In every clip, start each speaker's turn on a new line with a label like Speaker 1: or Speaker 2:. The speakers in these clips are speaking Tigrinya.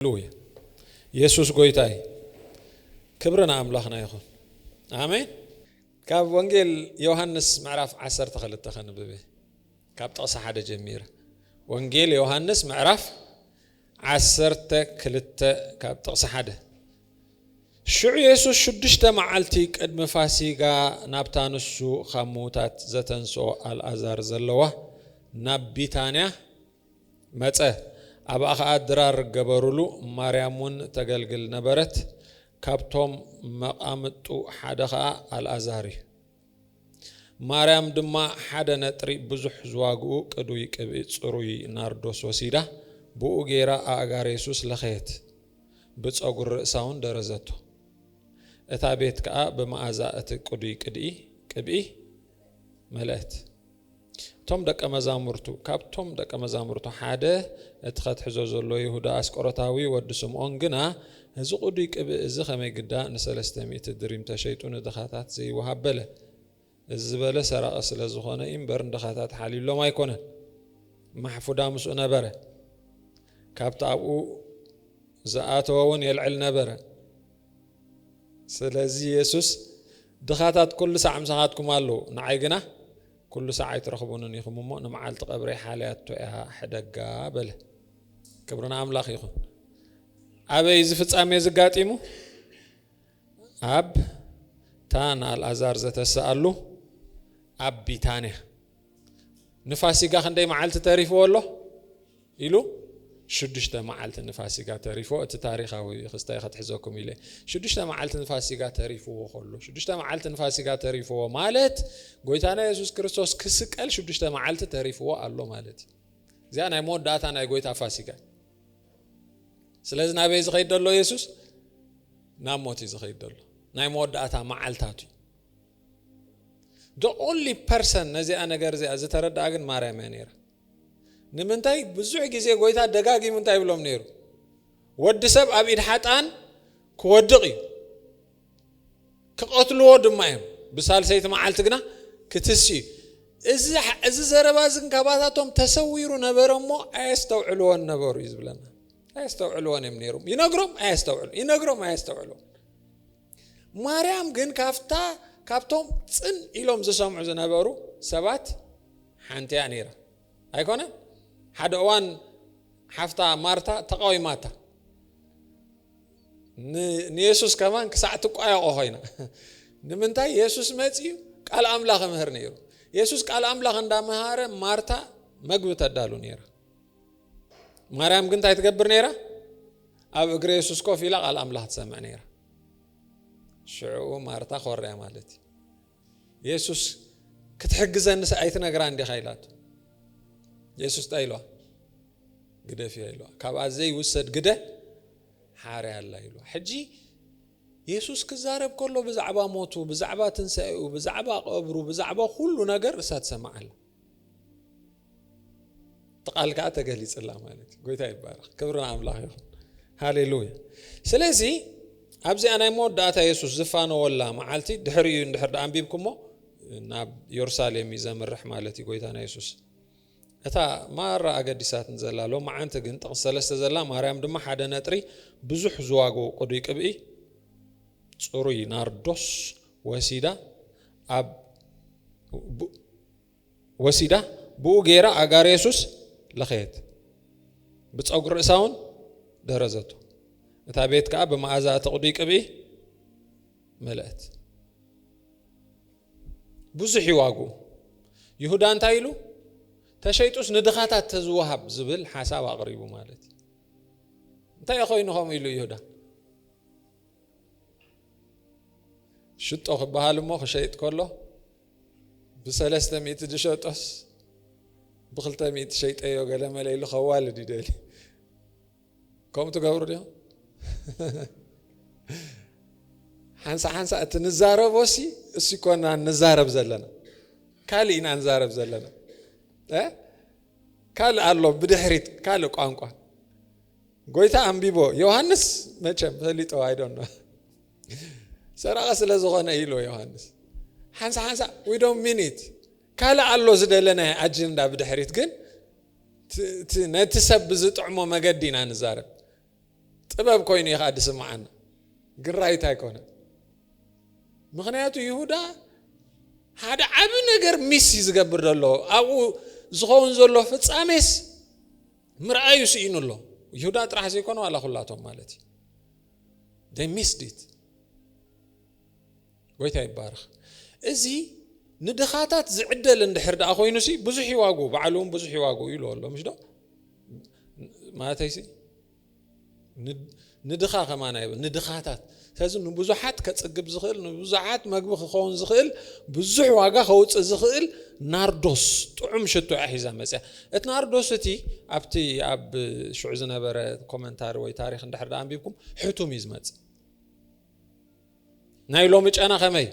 Speaker 1: ሃሌሉያ የሱስ ጎይታ እዩ ክብሪ ንኣምላኽና ይኹን ኣሜን። ካብ ወንጌል ዮሃንስ ምዕራፍ ዓሰርተ ክልተ ከንብብ እየ ካብ ጥቕሲ ሓደ ጀሚረ ወንጌል ዮሃንስ ምዕራፍ ዓሰርተ ክልተ ካብ ጥቕሲ ሓደ ሽዑ የሱስ ሽዱሽተ መዓልቲ ቅድሚ ፋሲጋ ናብታ ንሱ ካብ ምዉታት ዘተንስኦ ኣልኣዛር ዘለዋ ናብ ቢታንያ መጸ ኣብኣ ከኣ ድራር ገበሩሉ ማርያም ውን ተገልግል ነበረት ካብቶም መቃምጥቱ ሓደ ከኣ ኣልኣዛር እዩ ማርያም ድማ ሓደ ነጥሪ ብዙሕ ዝዋግኡ ቅዱይ ቅብኢ ጽሩይ ናርዶስ ወሲዳ ብኡ ገይራ ኣእጋር የሱስ ለኸየት ብጸጉሪ ርእሳ ውን ደረዘቶ እታ ቤት ከኣ ብመኣዛ እቲ ቅዱይ ቅድኢ ቅብኢ መለእት እቶም ደቀ መዛሙርቱ ካብቶም ደቀ መዛሙርቱ ሓደ እቲ ከትሕዞ ዘሎ ይሁዳ ኣስቆሮታዊ ወዲ ስምኦን ግና እዚ ቁዱይ ቅብእ እዚ ከመይ ግዳ ንሰለስተ ሚእቲ ድሪም ተሸይጡ ንድኻታት ዘይወሃብ በለ እዚ ዝበለ ሰራቂ ስለ ዝኾነ እዩ እምበር ንድኻታት ሓልዩሎም ኣይኮነን ማሕፉዳ ምስኡ ነበረ ካብቲ ኣብኡ ዝኣተወ እውን የልዕል ነበረ ስለዚ የሱስ፣ ድኻታት ኵሉ ሳዕ ምሳኻትኩም ኣለዉ፣ ንዓይ ግና ኵሉ ሳዕ ኣይትረኽቡንን ኢኹም እሞ፣ ንመዓልቲ ቐብረይ ሓልያቶ እያ ሕደጋ በለ። ክብሪ ንኣምላኽ ይኹን። ኣበይ እዩ እዚ ፍጻሜ እዚ ኣጋጢሙ? ኣብታ ንኣልኣዛር ዘተስኣሉ ኣብ ቢታንያ። ንፋሲጋ ክንደይ መዓልቲ ተሪፍዎ ኣሎ? ኢሉ ሽዱሽተ መዓልቲ ንፋሲጋ ተሪፎ እቲ ታሪኻዊ ክስታይ ከትሕዘኩም ኢለ ሽዱሽተ መዓልቲ ንፋሲጋ ተሪፍዎ ከሎ ሽዱሽተ መዓልቲ ንፋሲጋ ተሪፍዎ ማለት ጎይታና የሱስ ክርስቶስ ክስቀል ሽዱሽተ መዓልቲ ተሪፍዎ ኣሎ ማለት እዩ እዚኣ ናይ መወዳእታ ናይ ጎይታ ፋሲጋ ስለዚ ናበይ ዝኸይድ ዘሎ የሱስ ናብ ሞት እዩ ዝኸይድ ዘሎ ናይ መወዳእታ መዓልታቱ እዩ ዶ ኦንሊ ፐርሰን ነዚኣ ነገር እዚኣ ዝተረድኣ ግን ማርያም እያ ነይራ ንምንታይ ብዙሕ ግዜ ጎይታ ደጋጊሙ እንታይ ይብሎም ነይሩ? ወዲ ሰብ ኣብ ኢድ ሓጥኣን ክወድቕ እዩ፣ ክቐትልዎ ድማ እዮም፣ ብሳልሰይቲ መዓልቲ ግና ክትስእ እዩ። እዚ እዚ ዘረባ እዚ ካባታቶም ተሰዊሩ ነበረ እሞ ኣየስተውዕልዎን ነበሩ እዩ ዝብለና። ኣየስተውዕልዎን እዮም ነይሮም። ይነግሮም ኣየስተውዕሉ፣ ይነግሮም ኣየስተውዕሉ። ማርያም ግን ካብታ ካብቶም ጽን ኢሎም ዝሰምዑ ዝነበሩ ሰባት ሓንቲ እያ ነይራ ኣይኮነ ሓደ እዋን ሓፍታ ማርታ ተቃዊማታ ንየሱስ ከማን ክሳዕ ትቋየቆ ኮይና ንምንታይ የሱስ መፅዩ ቃል ኣምላኽ ምህር ነይሩ የሱስ ቃል ኣምላኽ እንዳመሃረ ማርታ መግቢ ተዳሉ ነይራ ማርያም ግን እንታይ ትገብር ነይራ? ኣብ እግሪ የሱስ ኮፍ ኢላ ቃል ኣምላኽ ትሰምዕ ነይራ። ሽዑ ማርታ ኮርያ ማለት እዩ የሱስ ክትሕግዘኒ ኣይትነግራ እንዲኻ ኢላቱ የሱስ እንታይ ኢልዋ ግደፍ እያ ኢልዋ ካብኣ ዘይውሰድ ግደ ሓርያ ኣላ ኢልዋ ሕጂ የሱስ ክዛረብ ከሎ ብዛዕባ ሞቱ ብዛዕባ ትንሳኤኡ ብዛዕባ ቀብሩ ብዛዕባ ኩሉ ነገር እሳ ትሰምዓላ እቲ ቃል ከዓ ተገሊፅላ ማለት እዩ ጎይታ ይባረክ ክብሪ ኣምላኽ ይኹን ሃሌሉያ ስለዚ ኣብዚኣ ናይ መወዳእታ የሱስ ዝፋነወላ መዓልቲ ድሕሪ እዩ እንድሕር ዳ ኣንቢብኩሞ ናብ ዮርሳሌም እዩ ዘምርሕ ማለት እዩ ጎይታ ናይ የሱስ እታ ማራ ኣገዲሳት ዘላ ሎ መዓንቲ ግን ጥቕስ ሰለስተ ዘላ ማርያም ድማ ሓደ ነጥሪ ብዙሕ ዝዋግኡ ቅዱይ ቅብኢ ፅሩይ ናርዶስ ወሲዳ ብኡ ገይራ ኣእጋር የሱስ ለኸየት፣ ብጸጉሪ ርእሳ እውን ደረዘቶ። እታ ቤት ከዓ ብመኣዛ እቲ ቅዱይ ቅብኢ መለእት። ብዙሕ እዩ ዋግኡ። ይሁዳ እንታይ ኢሉ? ተሸይጡስ ንድኻታት ተዝወሃብ ዝብል ሓሳብ ኣቕሪቡ ማለት እዩ። እንታይ ኮይኑ ከምኡ ኢሉ ይሁዳ? ሽጦ ክበሃል እሞ ክሸይጥ ከሎ ብሰለስተ ሚእቲ ዝሸጦስ ብክልተ ሚእቲ ሸይጠዮ ገለ መለ ኢሉ ከዋልድ ይደሊ ከምኡ ትገብሩ ድዮም ሓንሳ ሓንሳ እቲ ንዛረቦ ሲ እሱ ኮና ንዛረብ ዘለና ካልእ ኢና ንዛረብ ዘለና ካልእ ኣሎ ብድሕሪት ካልእ ቋንቋ ጎይታ ኣንቢቦ ዮሃንስ መቸም ፈሊጦ ኣይ ዶንት ኖ ሰራቂ ስለ ዝኾነ ኢልዎ ዮሃንስ ሓንሳ ሓንሳ ዊ ዶንት ሚን ኢት ካልእ ኣሎ ዝደለናዮ ኣጀንዳ ብድሕሪት ግን ነቲ ሰብ ብዝጥዕሞ መገዲ ኢና ንዛረብ ጥበብ ኮይኑ እዩ ከዓ ድስምዓና ግን ራይት ኣይኮነ ምክንያቱ ይሁዳ ሓደ ዓብ ነገር ሚስ እዩ ዝገብር ዘሎ ኣብኡ ዝኸውን ዘሎ ፍፃሜስ ምርኣዩ ስኢኑ ኣሎ። ይሁዳ ጥራሕ ዘይኮነ ዋላ ኩላቶም ማለት እዩ። they missed it ጎይታ ይባረኽ። እዚ ንድኻታት ዝዕደል እንድሕር ደኣ ኮይኑ ሲ ብዙሕ ይዋጉ በዓሉ እውን ብዙሕ ይዋጉ ይብሎ ኣሎ ምሽ ዶ ማለተይ ሲ ንድኻ ከማን ኣይብል ንድኻታት ስለዚ ንብዙሓት ከጽግብ ዝኽእል ንብዙሓት መግቢ ክኸውን ዝኽእል ብዙሕ ዋጋ ከውፅእ ዝኽእል ናርዶስ ጥዑም ሽቶ እያ ሒዛ መፅያ እቲ ናርዶስ እቲ ኣብቲ ኣብ ሽዑ ዝነበረ ኮመንታሪ ወይ ታሪክ እንድሕር ዳ ኣንቢብኩም ሕቱም እዩ ዝመፅእ ናይ ሎሚ ጨና ከመይ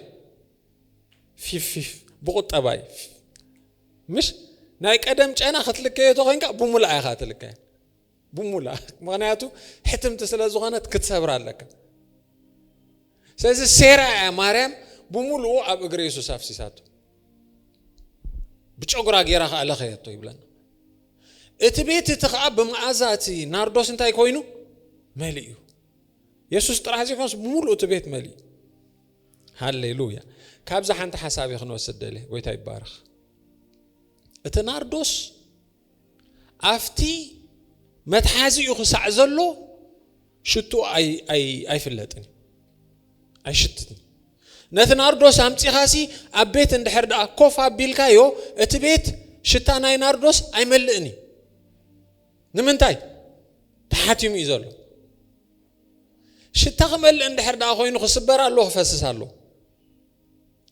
Speaker 1: ፊፍፊፍ ብቁጠባ እዩ ምሽ ናይ ቀደም ጨና ክትልከዮ ተኮይንካ ብሙላእ ኢኻ ትልከ ብሙላ ምክንያቱ ሕትምቲ ስለ ዝኾነት ክትሰብራ ኣለካ ስለዚ ሴራ እያ ማርያም ብምሉኡ ኣብ እግሪ የሱስ ኣፍሲሳቶ ብጨጉራ ጌራ ከዓ ለኸየቶ ይብለና እቲ ቤት እቲ ከዓ ብመኣዛ እቲ ናርዶስ እንታይ ኮይኑ መሊ እዩ የሱስ ጥራሕ ዘይኮንስ ብምሉእ እቲ ቤት መሊ እዩ ሃሌሉያ ካብዚ ሓንቲ ሓሳብ ክንወስድ ደልየ ጎይታ ይባረኽ እቲ ናርዶስ ኣፍቲ መትሓዚኡ ክሳዕ ዘሎ ሽትኡ ኣይፍለጥን እዩ ኣይሽትትን ነቲ ናርዶስ ኣምፂኻሲ ኣብ ቤት እንድሕር ደኣ ኮፍ ኣቢልካዮ እቲ ቤት ሽታ ናይ ናርዶስ ኣይመልእን እዩ ንምንታይ ተሓቲሙ እዩ ዘሎ ሽታ ክመልእ እንድሕር ደኣ ኮይኑ ክስበር ኣሎ ክፈስስ ኣሎ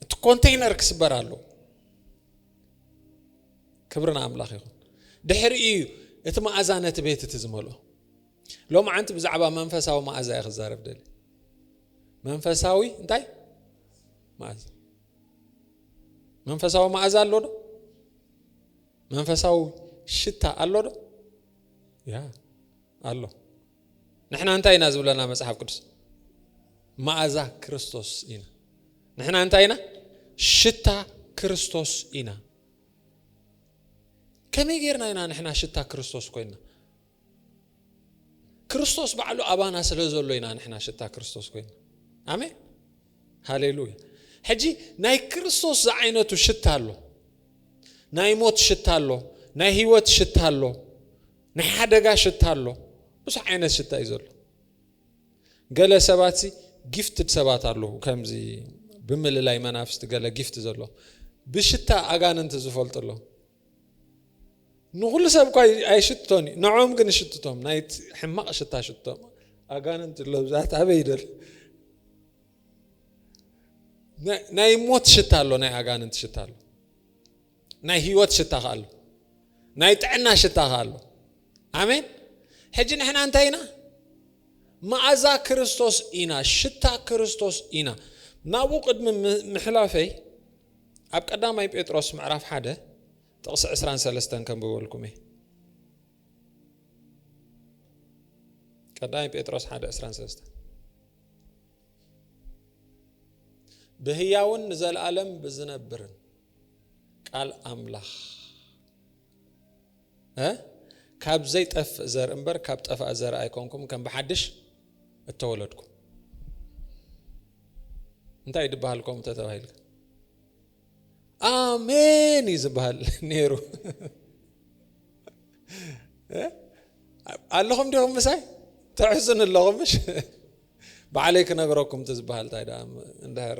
Speaker 1: እቲ ኮንቴይነር ክስበር ኣሎ ክብሪ ንኣምላኽ ይኹን ድሕሪ እዩ እቲ መኣዛ ነቲ ቤት እቲ ዝመልኦ ሎም ዓንቲ ብዛዕባ መንፈሳዊ መኣዛ እየ ክዛረብ ደሊ መንፈሳዊ እንታይ መኣዛ መንፈሳዊ መኣዛ ኣሎ ዶ መንፈሳዊ ሽታ ኣሎ ዶ ያ ኣሎ ንሕና እንታይ ኢና ዝብለና መጽሓፍ ቅዱስ መኣዛ ክርስቶስ ኢና ንሕና እንታይ ኢና ሽታ ክርስቶስ ኢና ከመይ ጌርና ኢና ንሕና ሽታ ክርስቶስ ኮይና ክርስቶስ ባዕሉ ኣባና ስለ ዘሎ ኢና ንሕና ሽታ ክርስቶስ ኮይና ኣሜን ሃሌሉያ ሕጂ ናይ ክርስቶስ ዝዓይነቱ ሽታ ኣሎ ናይ ሞት ሽታ ኣሎ ናይ ህይወት ሽታ ኣሎ ናይ ሓደጋ ሽታ ኣሎ ብዙሕ ዓይነት ሽታ እዩ ዘሎ ገለ ሰባት ሲ ጊፍትድ ሰባት ኣለዉ ከምዚ ብምልላይ መናፍስቲ ገለ ጊፍት ዘሎ ብሽታ ኣጋንንቲ ዝፈልጡ ኣሎ ንኩሉ ሰብ እኳ ኣይሽትቶን እዩ ንዖም ግን ሽትቶም ናይ ሕማቕ ሽታ ሽትቶም ኣጋንንቲ ኣሎ ብዛት ኣበይ ይደል ናይ ሞት ሽታ ኣሎ ናይ ኣጋንንቲ ሽታ ኣሎ ናይ ህይወት ሽታ ከኣ ኣሎ ናይ ጥዕና ሽታ ከኣ ኣሎ ኣሜን ሕጂ ንሕና እንታይ ኢና መኣዛ ክርስቶስ ኢና ሽታ ክርስቶስ ኢና ናብኡ ቅድሚ ምሕላፈይ ኣብ ቀዳማይ ጴጥሮስ ምዕራፍ ሓደ ጥቕሲ ዕስራን ሰለስተን ከንብበልኩም እየ ቀዳማይ ጴጥሮስ ሓደ ዕስራን ሰለስተን ብህያውን ንዘለኣለም ብዝነብርን ቃል ኣምላኽ ካብ ዘይጠፍእ ዘር እምበር ካብ ጠፋእ ዘር ኣይኮንኩም ከም ብሓድሽ እተወለድኩም እንታይ እዩ ድበሃል ኮም ተተባሂል ኣሜን እዩ ዝበሃል ነይሩ ኣለኹም ዲኹም ምሳይ ተሕዝኑ ኣለኹም ምሽ በዓለይ ክነግረኩም ትዝበሃል እንታይ ደኣ እንድሕር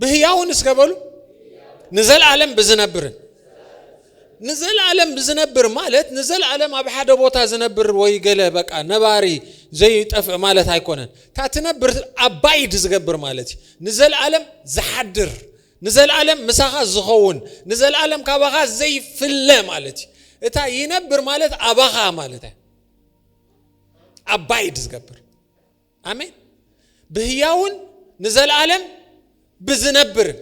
Speaker 1: ብህያውን እስከ በሉ ንዘለዓለም ብዝነብርን ንዘለዓለም ብዝነብር ማለት ንዘለዓለም ኣብ ሓደ ቦታ ዝነብር ወይ ገለ በቃ ነባሪ ዘይጠፍእ ማለት ኣይኮነን እታ ትነብር ኣባይድ ዝገብር ማለት እዩ ንዘለዓለም ዝሓድር ንዘለዓለም ምሳኻ ዝኸውን ንዘለዓለም ካባኻ ዘይፍለ ማለት እዩ እታ ይነብር ማለት ኣባኻ ማለት እዩ ኣባይድ ዝገብር ኣሜን ብህያውን ንዘለኣለም ብዝነብርን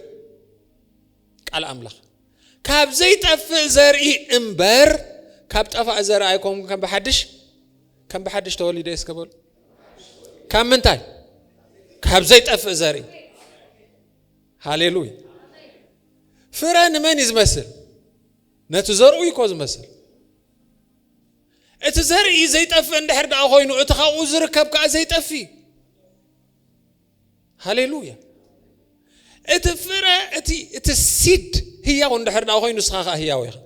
Speaker 1: ቃል ኣምላኽ ካብ ዘይጠፍእ ዘርኢ እምበር ካብ ጠፋእ ዘርኢ ኣይኮም ከም ብሓድሽ ከም ብሓድሽ ተወሊደ እስከ በሉ ካብ ምንታይ ካብ ዘይጠፍእ ዘርኢ ሃሌሉያ ፍረ ንመን እዩ ዝመስል ነቲ ዘርኡ ይኮ ዝመስል እቲ ዘርኢ ዘይጠፍእ እንድሕር ደኣ ኮይኑ እቲ ካብኡ ዝርከብ ከዓ ዘይጠፊ ሃሌሉያ እቲ ፍረ እቲ እቲ ሲድ ህያው እንድሕር ደኣ ኮይኑ ንስኻ ከዓ ህያው ኢኻ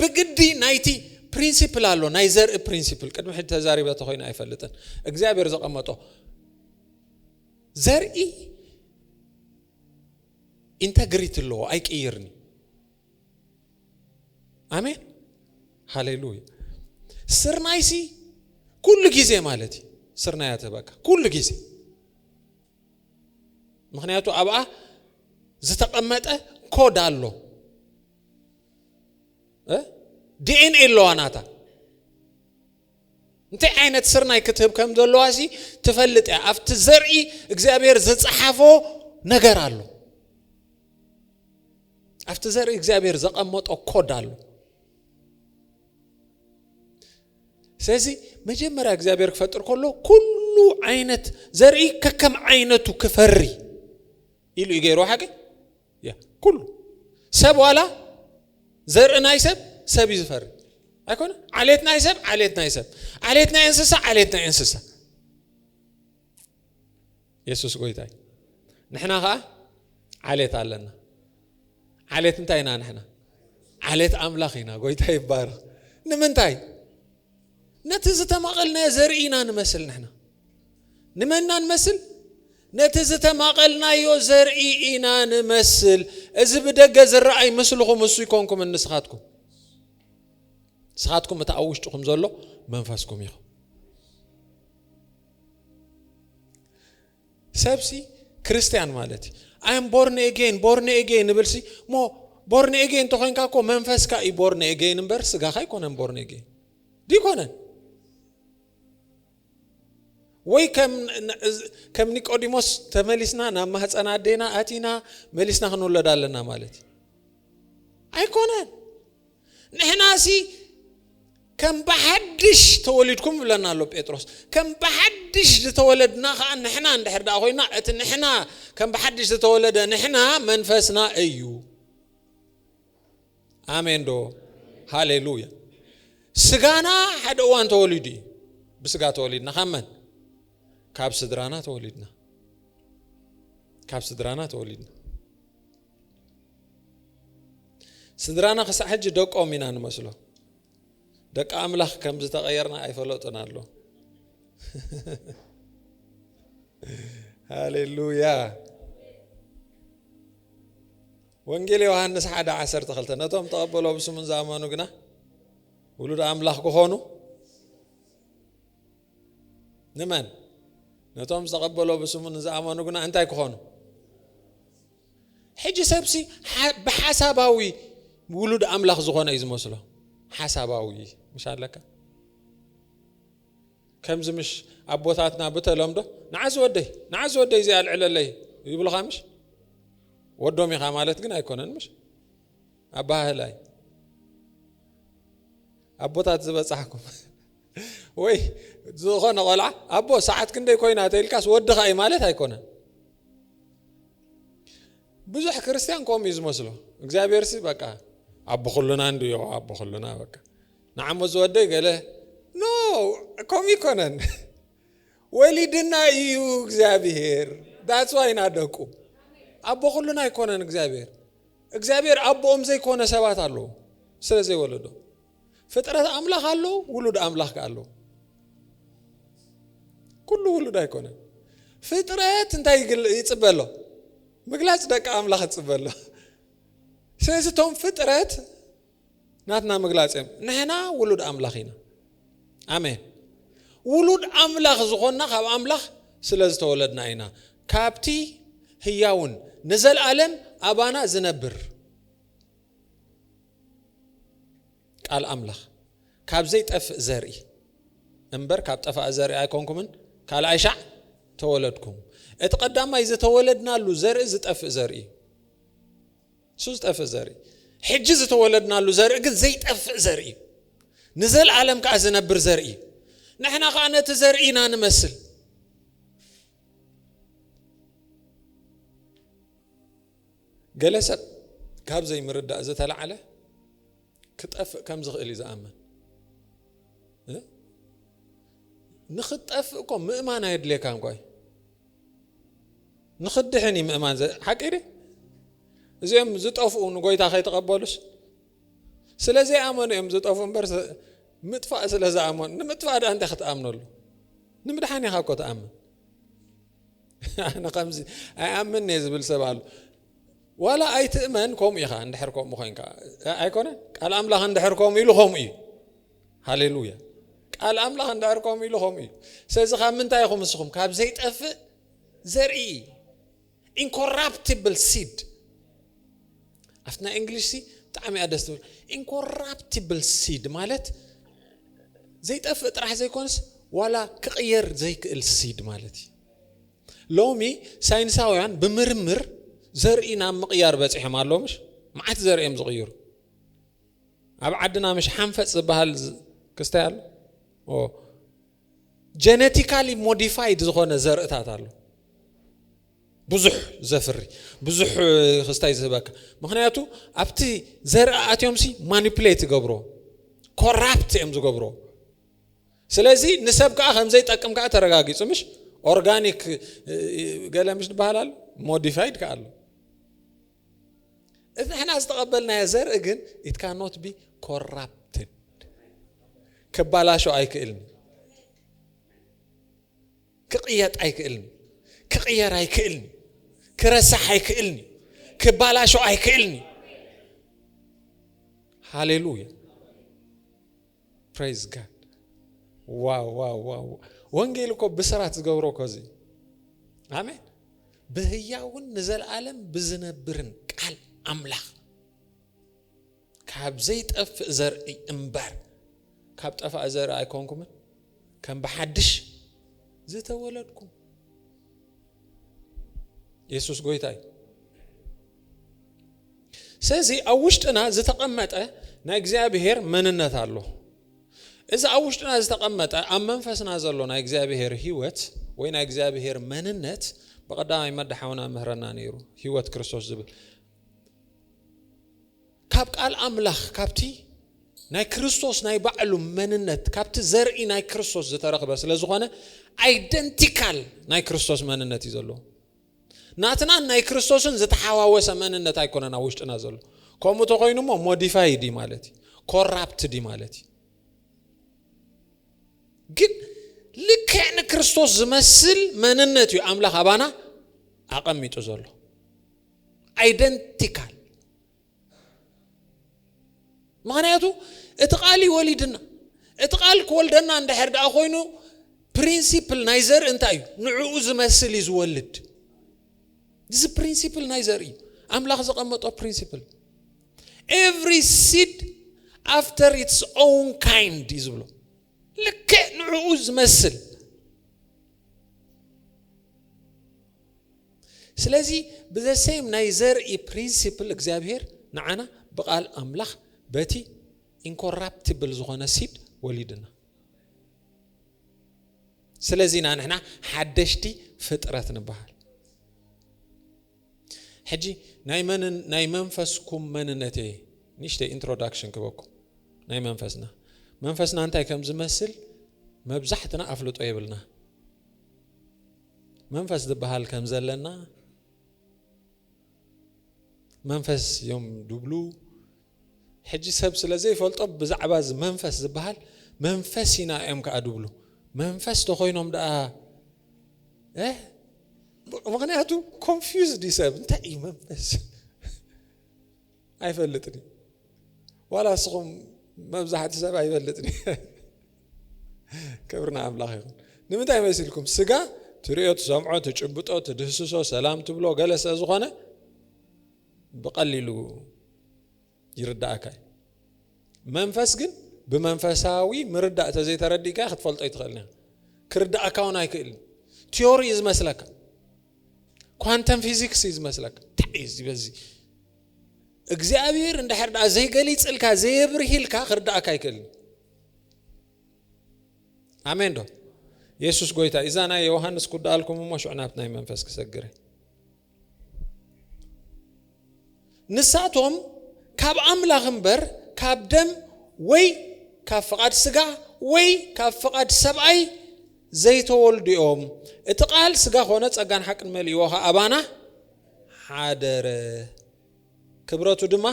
Speaker 1: ብግዲ ናይቲ ፕሪንሲፕል ኣሎ ናይ ዘርኢ ፕሪንሲፕል ቅድሚ ሕጂ ተዛሪበ ተኮይኑ ኣይፈልጥን እግዚኣብሔር ዘቐመጦ ዘርኢ ኢንተግሪቲ ኣለዎ ኣይቅይርኒ ኣሜን ሃሌሉያ ስርናይ ሲ ኩሉ ግዜ ማለት እዩ ስርናይ እያ ተበካ ኩሉ ግዜ ምክንያቱ ኣብኣ ዝተቐመጠ ኮድ ኣሎ ዲኤንኤ ኣለዋ ናታ እንታይ ዓይነት ስርናይ ክትህብ ከም ዘለዋ ሲ ትፈልጥ እያ ኣብቲ ዘርኢ እግዚኣብሔር ዝፀሓፎ ነገር ኣሎ ኣብቲ ዘርኢ እግዚኣብሔር ዘቐመጦ ኮድ ኣሎ ስለዚ መጀመርያ እግዚኣብሔር ክፈጥር ከሎ ኩሉ ዓይነት ዘርኢ ከከም ዓይነቱ ክፈሪ ኢሉ እዩ ገይሩ ሓቂ ኩሉ ሰብ ዋላ ዘርኢ ናይ ሰብ ሰብ እዩ ዝፈሪ ኣይኮነ ዓሌት ናይ ሰብ ዓሌት ናይ ሰብ ዓሌት ናይ እንስሳ ዓሌት ናይ እንስሳ የሱስ ጎይታ እዩ ንሕና ከዓ ዓሌት ኣለና ዓሌት እንታይ ኢና ንሕና ዓሌት ኣምላኽ ኢና ጎይታ ይባረኽ ንምንታይ ነቲ ዝተማቐልናዮ ዘርኢ ኢና ንመስል ንሕና ንመና ንመስል ነቲ ዝተማቐልናዮ ዘርኢ ኢና ንመስል እዚ ብደገ ዝረኣይ ምስልኹም እሱ ይኮንኩም ንስኻትኩም ንስኻትኩም እቲ ኣብ ውሽጥኹም ዘሎ መንፈስኩም ኢኹም ሰብሲ ክርስትያን ማለት እዩ ኣይ ኣም ቦርን ኤጌን ቦርን ኤጌን እብልሲ እሞ ቦርን ኤጌን እንተኮይንካ እኮ መንፈስካ እዩ ቦርን ኤጌን እምበር ስጋኻ ኣይኮነን ቦርን ኤጌን ዲኮነን ወይ ከም ኒቆዲሞስ ተመሊስና ናብ ማህፀን ኣዴና ኣቲና መሊስና ክንውለድ ኣለና ማለት እዩ ኣይኮነን ንሕናሲ ከም ብሓድሽ ተወሊድኩም ይብለና ኣሎ ጴጥሮስ ከም ብሓድሽ ዝተወለድና ከዓ ንሕና እንድሕር ደኣ ኮይና እቲ ንሕና ከም ብሓድሽ ዝተወለደ ንሕና መንፈስና እዩ ኣሜን ዶ ሃሌሉያ ስጋና ሓደ እዋን ተወሊዱ እዩ ብስጋ ተወሊድና ካብ መን ካብ ስድራና ተወሊድና ካብ ስድራና ተወሊድና ስድራና ክሳዕ ሕጂ ደቆም ኢና ንመስሎ ደቂ ኣምላኽ ከም ዝተቐየርና ኣይፈለጡን ኣሎ ሃሌሉያ ወንጌል ዮሃንስ ሓደ ዓሰርተ ክልተ ነቶም ተቐበሎ ብስሙን ዝኣመኑ ግና ውሉድ ኣምላኽ ክኾኑ ንመን? ነቶም ዝተቐበሎ ብስሙ ንዝኣመኑ ግና እንታይ ክኾኑ? ሕጂ ሰብሲ ብሓሳባዊ ውሉድ ኣምላኽ ዝኾነ እዩ ዝመስሎ ሓሳባዊ ምሽ ኣለካ ከምዚ ምሽ ኣቦታትና ብተለምዶ ንዓዚ ወደይ ንዓዚ ወደይ እዚ ኣልዕለለይ ይብልኻ ምሽ ወዶም ኢኻ ማለት ግን ኣይኮነን ምሽ ኣባህላይ ኣቦታት ዝበጻሕኩም ወይ ዝኾነ ቆልዓ ኣቦ ሰዓት ክንደይ ኮይና ተኢልካስ ወድኻ እዩ ማለት ኣይኮነን ብዙሕ ክርስትያን ከምኡ እዩ ዝመስሎ እግዚኣብሔርሲ በቃ ኣቦ ኩሉና እንዱ ዮ ኣቦ ኩሉና በቃ ንዓሞ ዝወደይ ገለ ኖ ከምኡ ይኮነን ወሊድና እዩ እግዚኣብሔር ዳፅዋይ ኢና ደቁ ኣቦ ኩሉና ኣይኮነን እግዚኣብሔር እግዚኣብሔር ኣቦኦም ዘይኮነ ሰባት ኣለዉ ስለ ዘይወለዶ ፍጥረት ኣምላኽ ኣሎ፣ ውሉድ ኣምላኽ ከ ኣሎ። ኩሉ ውሉድ ኣይኮነን። ፍጥረት እንታይ ይጽበ ኣሎ? ምግላጽ ደቂ ኣምላኽ ይጽበ ኣሎ። ስለዚ እቶም ፍጥረት ናትና ምግላጽ እዮም። ንሕና ውሉድ ኣምላኽ ኢና። ኣሜን። ውሉድ ኣምላኽ ዝኾና ካብ ኣምላኽ ስለ ዝተወለድና ኢና። ካብቲ ህያውን ንዘለኣለም ኣባና ዝነብር ቃል ኣምላኽ ካብ ዘይጠፍእ ዘርኢ እምበር ካብ ጠፋእ ዘርኢ ኣይኮንኩምን ካልኣይ ሻዕ ተወለድኩም እቲ ቀዳማይ ዝተወለድናሉ ዘርኢ ዝጠፍእ ዘርኢ እዩ እሱ ዝጠፍእ ዘርኢ ሕጂ ዝተወለድናሉ ዘርኢ ግን ዘይጠፍእ ዘርኢ እዩ ንዘለዓለም ከዓ ዝነብር ዘርኢ እዩ ንሕና ከዓ ነቲ ዘርኢ ኢና ንመስል ገለ ሰብ ካብ ዘይምርዳእ ዝተላዕለ ክጠፍእ ከም ዝኽእል እዩ ዝኣምን። ንክትጠፍእ እኮ ምእማን ኣየድልየካ እንኳ እዩ ንክድሕን እዩ ምእማን ሓቂ ደ እዚኦም ዝጠፍኡ ንጎይታ ከይተቐበሉስ ስለ ዘይኣመኑ እዮም ዝጠፍኡ እምበር ምጥፋእ ስለ ዝኣመኑ ንምጥፋእ ዳ እንታይ ክትኣምነሉ ንምድሓን ኢኻ እኮ ትኣምን ኣነ ከምዚ ኣይኣምን እየ ዝብል ሰብ ኣሎ ዋላ ኣይትእመን ከምኡ ኢኻ እንድሕር ከምኡ ኮንካ ኣይኮነ ቃል ኣምላኽ እንድሕር ከምኡ ኢሉ ከምኡ እዩ ሃሌሉያ ቃል ኣምላኽ እንድሕር ከምኡ ኢሉ ከምኡ እዩ ስለዚ ካብ ምንታይ ኢኹም ንስኹም ካብ ዘይጠፍእ ዘርኢ ኢንኮራፕቲብል ሲድ ኣብቲ ናይ እንግሊሽ ሲ ብጣዕሚ እያ ደስ ትብል ኢንኮራፕቲብል ሲድ ማለት ዘይጠፍእ ጥራሕ ዘይኮንስ ዋላ ክቕየር ዘይክእል ሲድ ማለት እዩ ሎሚ ሳይንሳውያን ብምርምር ዘርኢ ናብ ምቕያር በፂሖም ኣለዎ ምሽ መዓት ዘርኢ እዮም ዝቕይሩ ኣብ ዓድና ምሽ ሓንፈፅ ዝበሃል ክስታይ ኣሎ ጀነቲካሊ ሞዲፋይድ ዝኾነ ዘርእታት ኣሎ ብዙሕ ዘፍሪ ብዙሕ ክስታይ ዝህበካ ምክንያቱ ኣብቲ ዘርኢ ኣትዮምሲ ማኒፕሌት ይገብሮ ኮራፕት እዮም ዝገብሮ ስለዚ ንሰብ ከዓ ከምዘይጠቅም ከዓ ተረጋጊፁ ምሽ ኦርጋኒክ ገለ ምሽ ዝበሃል ኣሎ ሞዲፋይድ ከዓ ኣሎ እዚ ሕና ዝተቐበልናዮ ዘርኢ ግን ኢት ካኖት ቢ ኮራፕትድ ክባላሾ ኣይክእልን ክቕየጥ ኣይክእልን ክቕየር ኣይክእልን ክረሳሕ ኣይክእልን ክባላሾ ኣይክእልን ሃሌሉያ ፕሬዝ ጋድ ዋው ዋው ዋው ወንጌል እኮ ብስራት ዝገብሮ እኮ እዚ ኣሜን ብህያውን ንዘለዓለም ብዝነብርን ቃል ኣምላኽ ካብ ዘይጠፍእ ዘርኢ እምበር ካብ ጠፋእ ዘርኢ ኣይኮንኩምን፣ ከም ብሓድሽ ዝተወለድኩም። የሱስ ጎይታ እዩ። ስለዚ ኣብ ውሽጥና ዝተቐመጠ ናይ እግዚኣብሄር መንነት ኣሎ። እዚ ኣብ ውሽጥና ዝተቐመጠ ኣብ መንፈስና ዘሎ ናይ እግዚኣብሄር ህይወት ወይ ናይ እግዚኣብሄር መንነት ብቐዳማይ መዳሓውና ምህረና ነይሩ ህይወት ክርስቶስ ዝብል ካብ ቃል ኣምላኽ ካብቲ ናይ ክርስቶስ ናይ ባዕሉ መንነት ካብቲ ዘርኢ ናይ ክርስቶስ ዝተረኽበ ስለ ዝኾነ ኣይደንቲካል ናይ ክርስቶስ መንነት እዩ ዘለዎ ናትናን ናይ ክርስቶስን ዝተሓዋወሰ መንነት ኣይኮነና ውሽጥና ዘሎ ከምኡ ተኮይኑ ሞ ሞዲፋይድ እዩ ማለት እዩ ኮራፕትድ እዩ ማለት እዩ ግን ልክዕ ንክርስቶስ ዝመስል መንነት እዩ ኣምላኽ ኣባና ኣቐሚጡ ዘሎ ኣይደንቲካል ምክንያቱ እቲ ቃል እዩ ወሊድና እቲ ቃል ክወልደና እንድሕር ደኣ ኮይኑ ፕሪንሲፕል ናይ ዘርኢ እንታይ እዩ ንዕኡ ዝመስል እዩ ዝወልድ እዚ ፕሪንሲፕል ናይ ዘርኢ እዩ ኣምላኽ ዘቐመጦ ፕሪንሲፕል ኤቭሪ ሲድ ኣፍተር ኢትስ ኦውን ካይንድ እዩ ዝብሎ ልክዕ ንዕኡ ዝመስል ስለዚ ብዘሰይም ናይ ዘርኢ ፕሪንሲፕል እግዚኣብሔር ንዓና ብቃል ኣምላኽ በቲ ኢንኮራፕቲብል ዝኾነ ሲድ ወሊድና ስለዚ ኢና ንሕና ሓደሽቲ ፍጥረት ንበሃል ሕጂ ናይ መንን ናይ መንፈስኩም መንነት እየ ንእሽተይ ኢንትሮዳክሽን ክበኩም ናይ መንፈስና መንፈስና እንታይ ከም ዝመስል መብዛሕትና ኣፍልጦ የብልና መንፈስ ዝበሃል ከም ዘለና መንፈስ እዮም ድብሉ ሕጂ ሰብ ስለ ዘይፈልጦ ብዛዕባ እዚ መንፈስ ዝብሃል መንፈስ ኢና እዮም ከኣ ድብሉ መንፈስ ተኮይኖም ደኣ ምክንያቱ ኮንፊዝ ዲ ሰብ እንታይ እዩ መንፈስ ኣይፈልጥን ዋላ ንስኹም መብዛሕቲ ሰብ ኣይፈልጥን ክብሪ ንኣምላኽ ይኹን ንምንታይ መሲልኩም ስጋ ትሪኦ ትሰምዖ ትጭብጦ ትድህስሶ ሰላም ትብሎ ገለ ስለ ዝኾነ ብቐሊሉ ይርደኣካ እዩ። መንፈስ ግን ብመንፈሳዊ ምርዳእ ተዘይተረዲእካ ክትፈልጦ ኣይትኽእልን ኢኻ። ክርደኣካ እውን ኣይክእልን። ቲዮሪ እዩ ዝመስለካ። ኳንተም ፊዚክስ እዩ ዝመስለካ። እንታይ እዩ ዝበዚ እግዚኣብሔር እንድሕር ደኣ ዘይገሊጽልካ ዘየብርሂልካ ክርዳእካ ኣይክእልን። ኣሜን ዶ የሱስ ጎይታ እዛ ናይ ዮሃንስ ኩዳኣልኩም እሞ ሽዑ ናብቲ ናይ መንፈስ ክሰግረ ንሳቶም ካብ ኣምላኽ እምበር ካብ ደም ወይ ካብ ፍቓድ ስጋ ወይ ካብ ፍቓድ ሰብኣይ ዘይተወልዱ እዮም። እቲ ቃል ስጋ ኮነ ጸጋን ሓቅን መሊእዎ ኸኣ ኣባና ሓደረ። ክብረቱ ድማ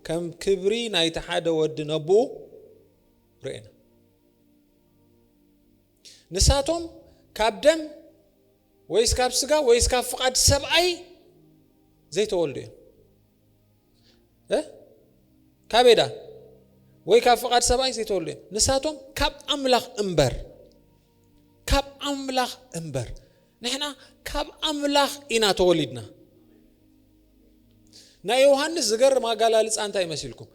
Speaker 1: ከም ክብሪ ናይቲ ሓደ ወዲ ነብኡ ርኤና። ንሳቶም ካብ ደም ወይስ ካብ ስጋ ወይስ ካብ ፍቓድ ሰብኣይ ዘይተወልዱ እዮም እ ካበይ ደኣ ወይ ካብ ፍቓድ ሰብኣይ ዘይተወልዱ እዮም ንሳቶም ካብ ኣምላኽ እምበር ካብ ኣምላኽ እምበር ንሕና ካብ ኣምላኽ ኢና ተወሊድና ናይ ዮሃንስ ዝገርም ኣጋላልፃ እንታይ መሲልኩም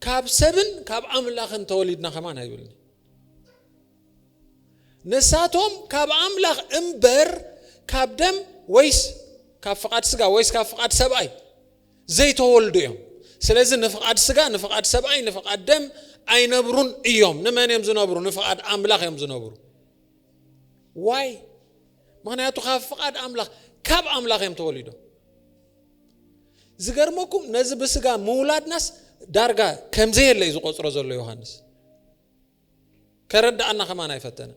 Speaker 1: ካብ ሰብን ካብ ኣምላኽን ተወሊድና ከማን ኣይብልኒ ንሳቶም ካብ ኣምላኽ እምበር ካብ ደም ወይስ ካብ ፍቓድ ስጋ ወይስ ካብ ፍቓድ ሰብኣይ ዘይተወልዱ እዮም ስለዚ ንፍቓድ ስጋ ንፍቓድ ሰብኣይ ንፍቓድ ደም ኣይነብሩን እዮም ንመን እዮም ዝነብሩ ንፍቓድ ኣምላኽ እዮም ዝነብሩ ዋይ ምክንያቱ ካብ ፍቓድ ኣምላኽ ካብ ኣምላኽ እዮም ተወሊዶም ዝገርመኩም ነዚ ብስጋ ምውላድናስ ዳርጋ ከምዘየለ እዩ ዝቆፅሮ ዘሎ ዮሃንስ ከረዳኣና ከማን ኣይፈተነ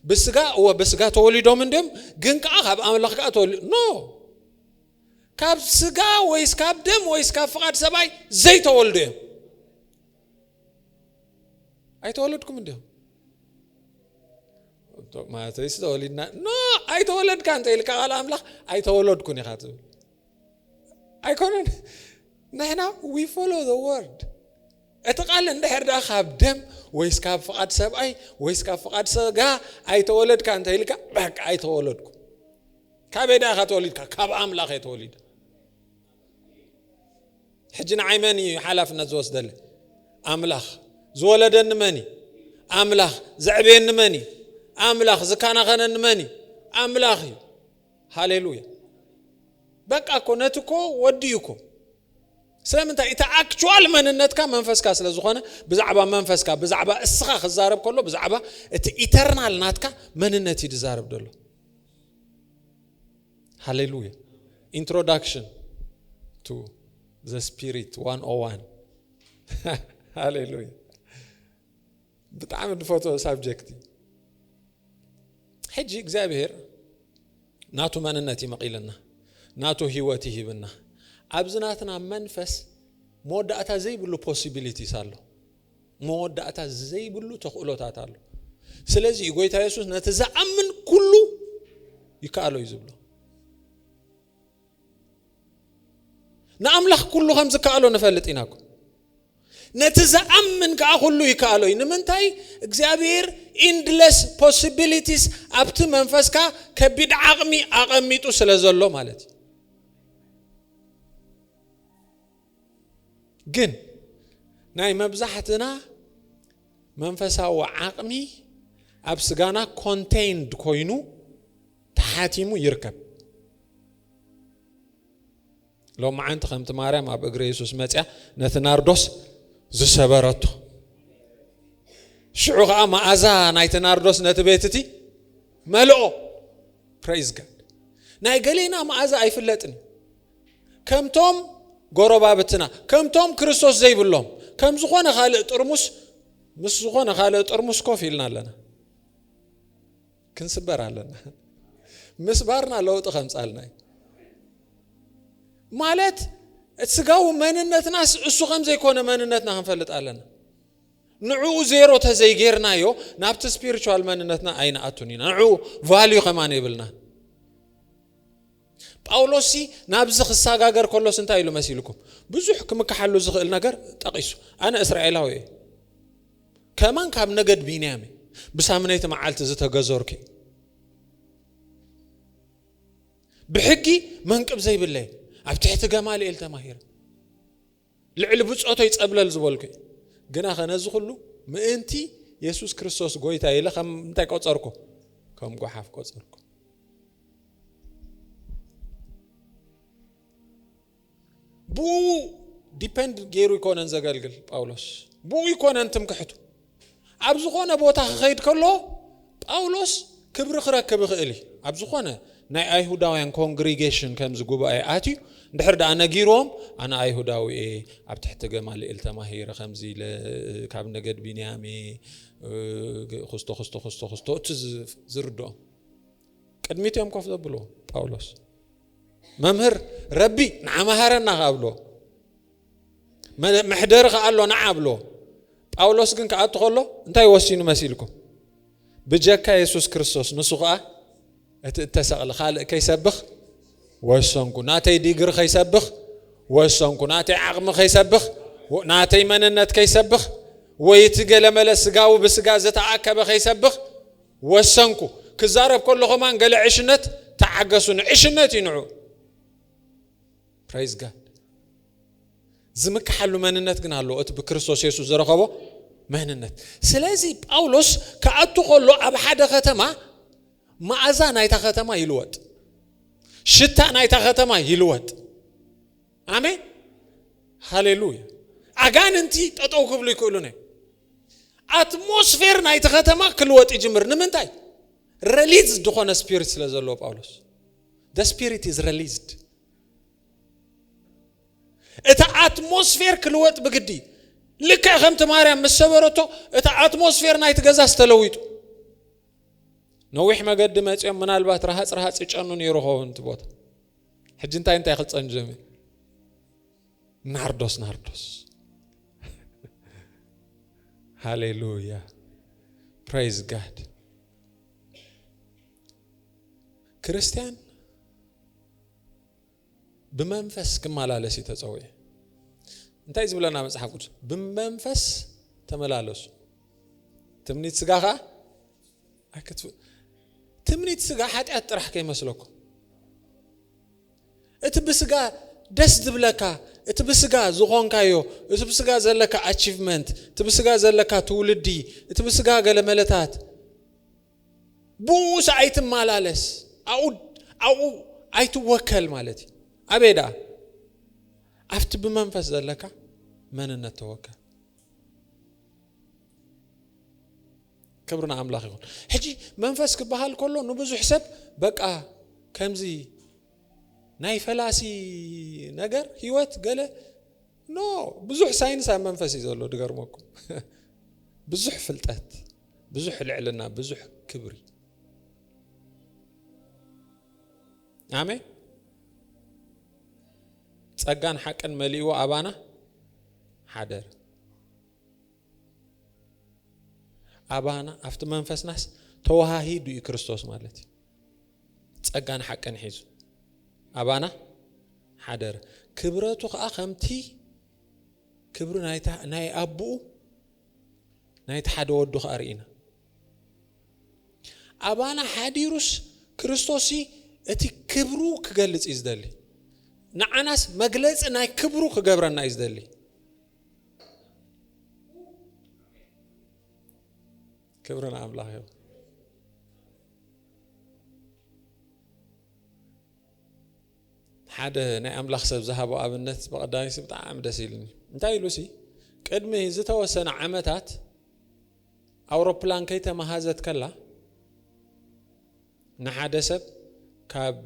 Speaker 1: ብስጋ እወ ብስጋ ተወሊዶም እንዲም ግን ከዓ ካብ ኣምላኽ ከዓ ተወሊ ኖ ካብ ስጋ ወይስ ካብ ደም ወይስ ካብ ፍቓድ ሰብኣይ ዘይተወልዱ እዮም ኣይተወለድኩምን ድዮም ማለተይሲ ተወሊድና ኖ ኣይተወለድካ እንተኢልካ ቃል ኣምላኽ ኣይተወለድኩን ኢኻ ትብል ኣይኮነን ንሕና ዊ ፎሎ ዘ ወርድ እቲ ቃል እንድሕር ድኣ ካብ ደም ወይስ ካብ ፍቓድ ሰብኣይ ወይስ ካብ ፍቓድ ሰጋ ኣይተወለድካ እንተኢልካ በቃ ኣይተወለድኩ ካበይ ድኣ ኢኻ ተወሊድካ ካብ ኣምላኽ እየ ተወሊደ ሕጂ ንዓይ መን እዩ ሓላፍነት ዝወስደለ ኣምላኽ ዝወለደኒ መን እዩ ኣምላኽ ዘዕበየኒ መን እዩ ኣምላኽ ዝከናኸነኒ መን እዩ ኣምላኽ እዩ ሃሌሉያ በቃ እኮ ነቲ እኮ ወዲኡ እኮ ስለምንታይ እቲ ኣክቹዋል መንነትካ መንፈስካ ስለ ዝኾነ ብዛዕባ መንፈስካ ብዛዕባ እስኻ ክዛረብ ከሎ ብዛዕባ እቲ ኢተርናል ናትካ መንነት እዩ ዝዛረብ ደሎ ሃሌሉያ ኢንትሮዳክሽን ቱ ዘ ስፒሪት ዋን ኦ ዋን ሃሌሉያ ብጣዕሚ ድፈትዎ ሳብጀክት እዩ ሕጂ እግዚኣብሄር ናቱ መንነት እዩ መቒልና ናቱ ህይወት ይሂብና ኣብዚ ናትና መንፈስ መወዳእታ ዘይብሉ ፖሲቢሊቲስ ኣሎ መወዳእታ ዘይብሉ ተኽእሎታት ኣሎ። ስለዚ እዩ ጎይታ የሱስ ነቲ ዝኣምን ኩሉ ይከኣሎ እዩ ዝብሎ። ንኣምላኽ ኩሉ ከም ዝከኣሎ ንፈልጥ ኢና እኮ ነቲ ዝኣምን ከዓ ኩሉ ይከኣሎ እዩ ንምንታይ እግዚኣብሔር ኢንድለስ ፖሲቢሊቲስ ኣብቲ መንፈስካ ከቢድ ዓቕሚ ኣቐሚጡ ስለ ዘሎ ማለት እዩ ግን ናይ መብዛሕትና መንፈሳዊ ዓቕሚ ኣብ ስጋና ኮንቴይንድ ኮይኑ ተሓቲሙ ይርከብ ሎመዓንቲ ከምቲ ማርያም ኣብ እግሪ የሱስ መፅያ ነቲ ናርዶስ ዝሰበረቶ ሽዑ ከዓ መኣዛ ናይቲ ናርዶስ ነቲ ቤት እቲ መልኦ ፕሬዝ ጋድ ናይ ገሌና መኣዛ ኣይፍለጥን ከምቶም ጎረባብትና፣ ከምቶም ክርስቶስ ዘይብሎም፣ ከም ዝኾነ ካልእ ጥርሙስ ምስ ዝኾነ ካልእ ጥርሙስ ኮፍ ኢልና ኣለና። ክንስበር ኣለና። ምስባርና ለውጢ ከምጻልና እዩ ማለት ስጋዊ መንነትናስ እሱ ከም ዘይኮነ መንነትና ክንፈልጥ ኣለና ንዕኡ ዜሮ ተዘይጌርናዮ ናብቲ ስፒሪቹዋል መንነትና ኣይንኣቱን ኢና ንዕኡ ቫልዩ ከማን የብልና ጳውሎስሲ ናብዚ ክሰጋገር ከሎስ እንታይ ኢሉ መሲልኩም? ብዙሕ ክምክሓሉ ዝኽእል ነገር ጠቒሱ። ኣነ እስራኤላዊ እየ፣ ከማን ካብ ነገድ ቢንያም እየ፣ ብሳምነይቲ መዓልቲ ዝተገዘርኩ እየ፣ ብሕጊ መንቅብ ዘይብለይ፣ ኣብ ትሕቲ ገማልኤል ተማሂረ። ልዕሊ ብጾተይ ጸብለል ዝበልኩ እየ። ግናኸ ነዚ ዅሉ ምእንቲ የሱስ ክርስቶስ ጐይታይ ኢለ ኸም እንታይ ቈጸርኩ? ከም ጓሓፍ ቈጸርኩ። ብእኡ ዲፐንድ ገይሩ ኣይኰነን ዘገልግል ጳውሎስ። ብእኡ ኣይኰነን ትምክሕቱ። ኣብ ዝኾነ ቦታ ክኸይድ ከሎ ጳውሎስ ክብሪ ክረክብ ይኽእል እዩ። ኣብ ዝኾነ ናይ ኣይሁዳውያን ኮንግሪጌሽን ከምዚ ጉባኤ ኣትዩ እንድሕር ደኣ ነጊሮም ኣነ ኣይሁዳዊ እየ ኣብ ትሕቲ ገማልኤል ተማሂረ ከምዚ ኢለ ካብ ነገድ ቢንያም እየ ክስቶ ክስቶ ክስቶ ክስቶ እቲ ዝርድኦም ቅድሚት እዮም ኮፍ ዘብሎ ጳውሎስ መምህር ረቢ ንዓመሃረና ካብሎ መሕደሪ ከኣ ኣሎ ንዓ ኣብልዎ ጳውሎስ ግን ክኣቱ ከሎ እንታይ ወሲኑ መሲልኩም ብጀካ የሱስ ክርስቶስ ንሱ ከዓ እቲ እተሰቕለ ካልእ ከይሰብኽ ወሰንኩ ናተይ ዲግሪ ከይሰብኽ ወሰንኩ ናተይ ዓቕሚ ከይሰብኽ ናተይ መንነት ከይሰብኽ ወይ እቲ ገለመለ ስጋዊ ብስጋ ዝተኣከበ ከይሰብኽ ወሰንኩ ክዛረብ ከሎ ኸማን ገለ ዕሽነት ተዓገሱን ዕሽነት እዩ ንዑ Praise God ዝምክሓሉ መንነት ግን ኣለዎ እቲ ብክርስቶስ የሱስ ዝረኸቦ መንነት ስለዚ ጳውሎስ ክኣቱ ከሎ ኣብ ሓደ ከተማ መኣዛ ናይታ ከተማ ይልወጥ ሽታ ናይታ ከተማ ይልወጥ ኣሜን ሃሌሉያ ኣጋንንቲ ጠጠው ክብሉ ይክእሉን እዮም ኣትሞስፌር ናይቲ ከተማ ክልወጥ ይጅምር ንምንታይ ረሊዝ ዝኾነ ስፒሪት ስለ ዘለዎ ጳውሎስ ደ ስፒሪት ኢዝ ረሊዝድ እቲ ኣትሞስፌር ክልወጥ ብግዲ ልክዕ ከምቲ ማርያም ምስ ሰበረቶ እቲ ኣትሞስፌር ናይቲ ገዛስ ተለዊጡ ነዊሕ መገዲ መፅኦም ምናልባት ረሃፅ ረሃፅ ይጨኑ ነይሩ ኸውን እቲ ቦታ ሕጂ እንታይ እንታይ ክፀን ጀሚሩ ናርዶስ ናርዶስ ሃሌሉያ ፕሬዝ ጋድ ክርስቲያን ብመንፈስ ክመላለስ እዩ ተጸውየ እንታይ ዝብለና መጽሓፍ ቅዱስ ብመንፈስ ተመላለሱ ትምኒት ስጋ ከዓ ኣይክት ትምኒት ስጋ ሓጢኣት ጥራሕ ከይመስለኩም እቲ ብስጋ ደስ ዝብለካ እቲ ብስጋ ዝኾንካዮ እቲ ብስጋ ዘለካ ኣቺቭመንት እቲ ብስጋ ዘለካ ትውልዲ እቲ ብስጋ ገለመለታት ብኡስ ኣይትማላለስ ኣኡ ኣኡ ኣይትወከል ማለት እዩ ኣበይ ደኣ ኣብቲ ብመንፈስ ዘለካ መንነት ተወከል ክብሪ ንኣምላኽ ይኹን ሕጂ መንፈስ ክበሃል ከሎ ንብዙሕ ሰብ በቃ ከምዚ ናይ ፈላሲ ነገር ህይወት ገለ ኖ ብዙሕ ሳይንስ ኣብ መንፈስ እዩ ዘሎ ድገርመኩም ብዙሕ ፍልጠት ብዙሕ ልዕልና ብዙሕ ክብሪ ኣሜን ጸጋን ሓቅን መሊእዎ ኣባና ሓደር ኣባና ኣብቲ መንፈስናስ ተዋሃሂዱ እዩ ክርስቶስ ማለት እዩ ጸጋን ሓቅን ሒዙ ኣባና ሓደረ ክብረቱ ከዓ ከምቲ ክብሪ ናይ ኣቦኡ ናይቲ ሓደ ወዱ ከዓ ርኢና ኣባና ሓዲሩስ ክርስቶስ እቲ ክብሩ ክገልጽ እዩ ዝደሊ ንዓናስ መግለጺ ናይ ክብሩ ክገብረና እዩ ዝደሊ ክብሪ ንኣምላኽ ይኹን። ሓደ ናይ ኣምላኽ ሰብ ዝሃቦ ኣብነት ብቐዳሚሲ ብጣዕሚ ደስ ኢሉኒ እንታይ ኢሉ ሲ ቅድሚ ዝተወሰነ ዓመታት ኣውሮፕላን ከይተመሃዘት ከላ ንሓደ ሰብ ካብ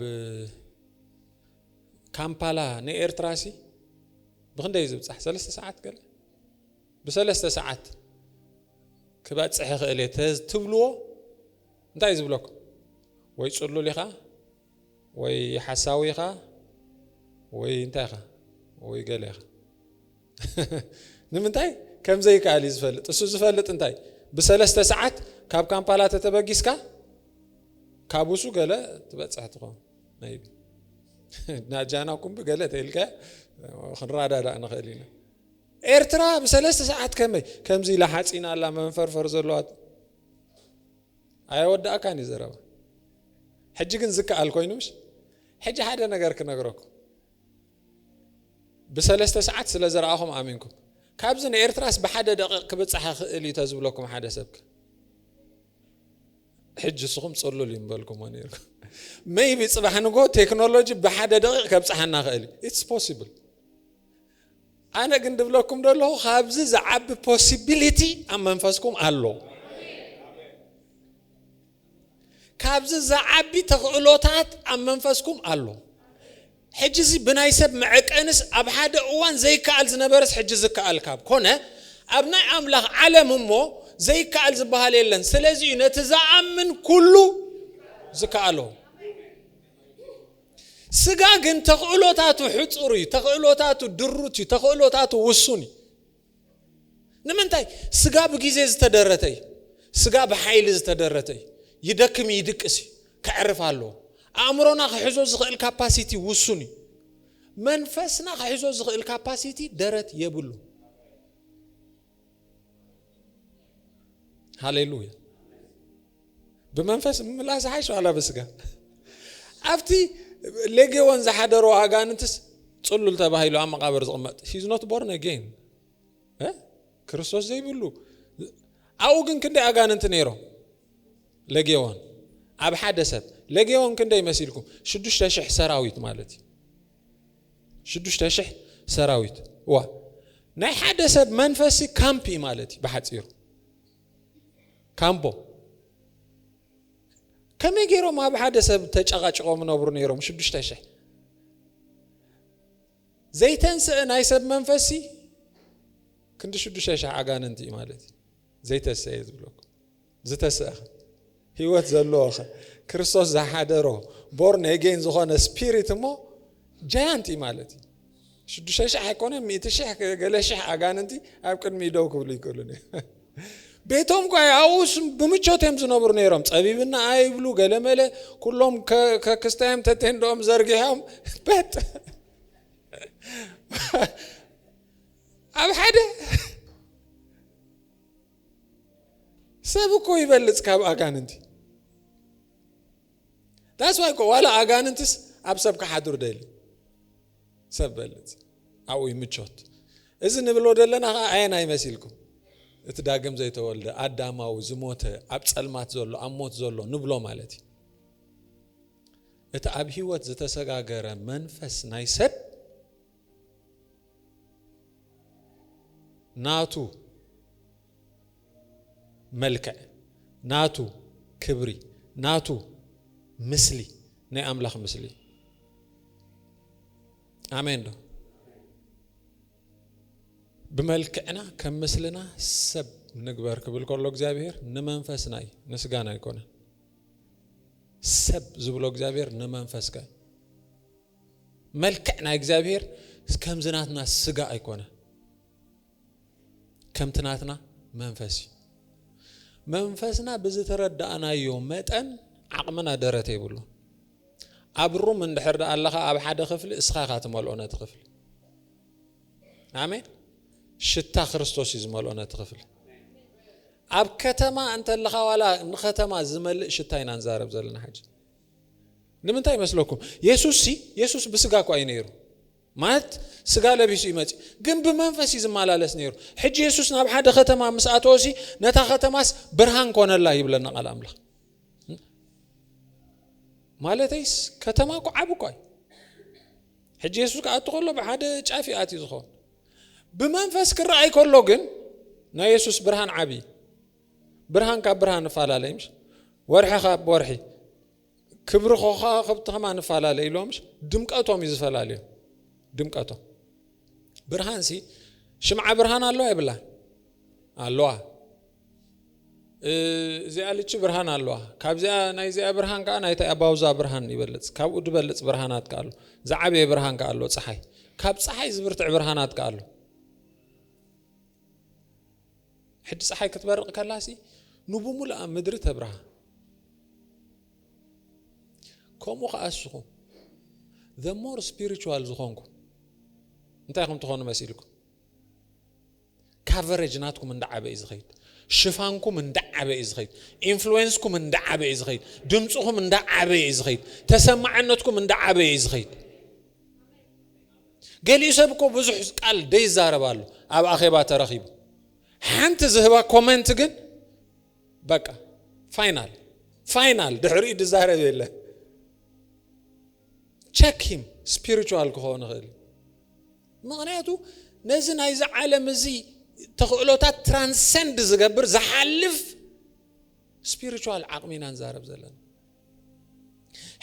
Speaker 1: ካምፓላ ንኤርትራሲ ብክንደይ እዩ ዝብጻሕ ሰለስተ ሰዓት ገለ ብሰለስተ ሰዓት ክበጽሕ ይኽእል እየ ትብልዎ እንታይ እዩ ዝብለኩም ወይ ጽሉል ኢኻ ወይ ሓሳዊ ኢኻ ወይ እንታይ ኢኻ ወይ ገለ ኢኻ ንምንታይ ከም ዘይከኣል እዩ ዝፈልጥ እሱ ዝፈልጥ እንታይ ብሰለስተ ሰዓት ካብ ካምፓላ ተተበጊስካ ካብ ውሱ ገለ ትበፅሕ ትኸውን ናጃና ኩም ብገለ ተልካ ክንራዳዳእ ንኽእል ኢና ኤርትራ ብሰለስተ ሰዓት ከመይ ከምዚ ኢላ ሓፂና ኣላ መንፈርፈር ዘለዋት ኣየወዳእካን እዩ ዘረባ ሕጂ ግን ዝከኣል ኮይኑ ምሽ ሕጂ ሓደ ነገር ክነግረኩም ብሰለስተ ሰዓት ስለ ዘረኣኹም ኣሚንኩም ካብዚ ንኤርትራስ ብሓደ ደቂቕ ክብፅሓ ክእል እዩ ተዝብለኩም ሓደ ሰብክ ሕጂ ንስኹም ጽሉል እዩ ምበልኩሞ ነይርኩ መይቢ ጽባሕ ንጎ ቴክኖሎጂ ብሓደ ደቂቕ ከብጽሓና ኽእል እዩ ኢትስ ፖሲብል ኣነ ግን ድብለኩም ደለኹ ካብዚ ዝዓቢ ፖሲቢሊቲ ኣብ መንፈስኩም ኣሎ ካብዚ ዝዓቢ ተኽእሎታት ኣብ መንፈስኩም ኣሎ ሕጂ'ዚ ብናይ ሰብ መዐቀንስ ኣብ ሓደ እዋን ዘይከኣል ዝነበረስ ሕጂ ዝከኣል ካብ ኮነ፣ ኣብ ናይ ኣምላኽ ዓለም እሞ ዘይከኣል ዝበሃል የለን። ስለዚ እዩ ነቲ ዝኣምን ኩሉ ዝከኣሎ። ስጋ ግን ተኽእሎታቱ ሕጹር እዩ፣ ተኽእሎታቱ ድሩት እዩ፣ ተኽእሎታቱ ውሱን እዩ። ንምንታይ ስጋ ብጊዜ ዝተደረተ እዩ ስጋ ብሓይሊ ዝተደረተ እዩ ይደክም እዩ ይድቅስ እዩ ከዕርፍ ኣለዎ ኣእምሮና ክሕዞ ዝኽእል ካፓሲቲ ውሱን እዩ መንፈስና ክሕዞ ዝኽእል ካፓሲቲ ደረት የብሉ ሃሌሉያ ብመንፈስ ምምላስ ዝሓይሽ ዋላ ብስጋ ኣብቲ ሌጌዎን ዝሓደሮ ኣጋንንትስ ፅሉል ተባሂሉ ኣብ መቃብር ዝቕመጥ ሂዝ ኖት ቦርን ኣጌን ክርስቶስ ዘይብሉ ኣብኡ ግን ክንደይ ኣጋንንቲ ነይሮም ሌጌዎን ኣብ ሓደ ሰብ ሌጌዎን ክንደይ መሲልኩም ሽዱሽተ ሽሕ ሰራዊት ማለት እዩ ሽዱሽተ ሽሕ ሰራዊት ዋ ናይ ሓደ ሰብ መንፈሲ ካምፕ እዩ ማለት እዩ ብሓፂሩ ካምቦ ከመይ ገይሮም ኣብ ሓደ ሰብ ተጨቓጭቖም ነብሩ ነይሮም ሽዱሽተ ሽሕ ዘይተንስአ ናይ ሰብ መንፈሲ ክንዲ ሽዱሽተ ሽሕ ኣጋንንቲ እዩ ማለት እዩ ዘይተስአ እዩ ዝብለኩ ዝተስአ ህይወት ዘለዎ ከ ክርስቶስ ዝሓደሮ ቦርን ኤጌን ዝኾነ ስፒሪት እሞ ጃያንት እዩ ማለት እዩ ሽዱሽተ ሽሕ ኣይኮነ ሚእቲ ሽሕ ገለ ሽሕ ኣጋንንቲ ኣብ ቅድሚ ደው ክብሉ ይክእሉ ቤቶም ኳ ኣብኡስ ብምቾት እዮም ዝነብሩ ነይሮም ፀቢብና ኣይብሉ ገለመለ ኩሎም ከክስታዮም ተቴንዶኦም ዘርጊሖም በጥ ኣብ ሓደ ሰብ እኮ ይበልጽ ካብ ኣጋንንቲ ዳስ ዋይ እኮ ዋላ ኣጋንንትስ ኣብ ሰብ ክሓድሩ ደሊ ሰብ በልጽ ኣብኡ ይምቾት እዚ ንብሎ ዘለና ከዓ ኣየን ኣይመሲልኩም እቲ ዳግም ዘይተወልደ ኣዳማዊ ዝሞተ ኣብ ፀልማት ዘሎ ኣብ ሞት ዘሎ ንብሎ ማለት እዩ እቲ ኣብ ህይወት ዝተሰጋገረ መንፈስ ናይ ሰብ ናቱ መልክዕ ናቱ ክብሪ ናቱ ምስሊ ናይ ኣምላኽ ምስሊ ኣሜን ዶ ብመልክዕና ከም ምስልና ሰብ ንግበር ክብል ከሎ እግዚኣብሔር ንመንፈስና እዩ ንስጋና ኣይኮነን ሰብ ዝብሎ እግዚኣብሔር ንመንፈስካ እዩ መልክዕ ናይ እግዚኣብሔር ከምዚ ናትና ስጋ ኣይኮነ ከምቲ ናትና መንፈስ እዩ መንፈስና ብዝተረዳእናዮ መጠን ዓቕምና ደረት የብሉ ኣብ ሩም እንድሕር ዳኣ ኣለኻ ኣብ ሓደ ክፍሊ እስኻ ኢኻ ትመልኦ ነቲ ክፍሊ ኣሜን ሽታ ክርስቶስ እዩ ዝመልኦ ነቲ ክፍሊ ኣብ ከተማ እንተለኻ ዋላ ንከተማ ዝመልእ ሽታ ኢና ንዛረብ ዘለና ሓጂ ንምንታይ ይመስለኩም? የሱስሲ የሱስ ብስጋ እኳ እዩ ነይሩ፣ ማለት ስጋ ለቢሱ እዩ መጺኡ፣ ግን ብመንፈስ እዩ ዝመላለስ ነይሩ። ሕጂ የሱስ ናብ ሓደ ከተማ ምስ ኣተወሲ ነታ ከተማስ ብርሃን ኮነላ ይብለና ቃል ኣምላኽ። ማለተይስ ከተማ እኮ ዓብ እኳ እዩ ሕጂ የሱስ ክኣቱ ከሎ ብሓደ ጫፍ ይኣት እዩ ዝኸውን ብመንፈስ ክረኣይ ከሎ ግን ናይ የሱስ ብርሃን ዓብዪ ብርሃን ካብ ብርሃን እፋላለይ ምሽ ወርሒ ካብ ወርሒ ክብሪ ከዋክብቲ ከማን እፋላለይ ኢሎም ምሽ ድምቀቶም እዩ ዝፈላለዩ ድምቀቶም ብርሃን ሲ ሽምዓ ብርሃን ኣለዋ የብላ ኣለዋ እዚኣ ልቺ ብርሃን ኣለዋ ካብዚኣ ናይ ዚኣ ብርሃን ከዓ ናይታ ኣባውዛ ብርሃን ይበልፅ ካብኡ ድበልፅ ብርሃናት ከ ኣሎ ዝዓበየ ብርሃን ከ ኣሎ ፀሓይ ካብ ፀሓይ ዝብርትዕ ብርሃናት ከ ኣሎ ሕጂ ጸሓይ ክትበርቕ ከላሲ ንብምሉኣ ምድሪ ተብርሃ። ከምኡ ከኣ እስኹም the more spiritual ዝኾንኩም እንታይ ኢኹም ትኾኑ መሲልኩም ካቨሬጅ ናትኩም እንዳዓበ እዩ ዝኸይድ ሽፋንኩም እንዳዓበ እዩ ዝኸይድ ኢንፍሉዌንስኩም እንዳዓበ እዩ ዝኸይድ ድምፅኹም እንዳዓበ እዩ ዝኸይድ ተሰማዕነትኩም እንዳዓበ እዩ ዝኸይድ ገሊኡ ሰብ እኮ ብዙሕ ቃል ደይዛረብ ኣሎ ኣብ ኣኼባ ተረኺቡ ሓንቲ ዝህባ ኮመንት ግን በቃ ፋይናል ፋይናል ድሕሪኡ ድዛረብ የለን ቸክ ሂም ስፒሪቹዋል ክኸውን ይኽእል ምክንያቱ ነዚ ናይዚ ዓለም እዚ ተኽእሎታት ትራንሰንድ ዝገብር ዝሓልፍ ስፒሪቹዋል ዓቕሚ ኢና ንዛረብ ዘለና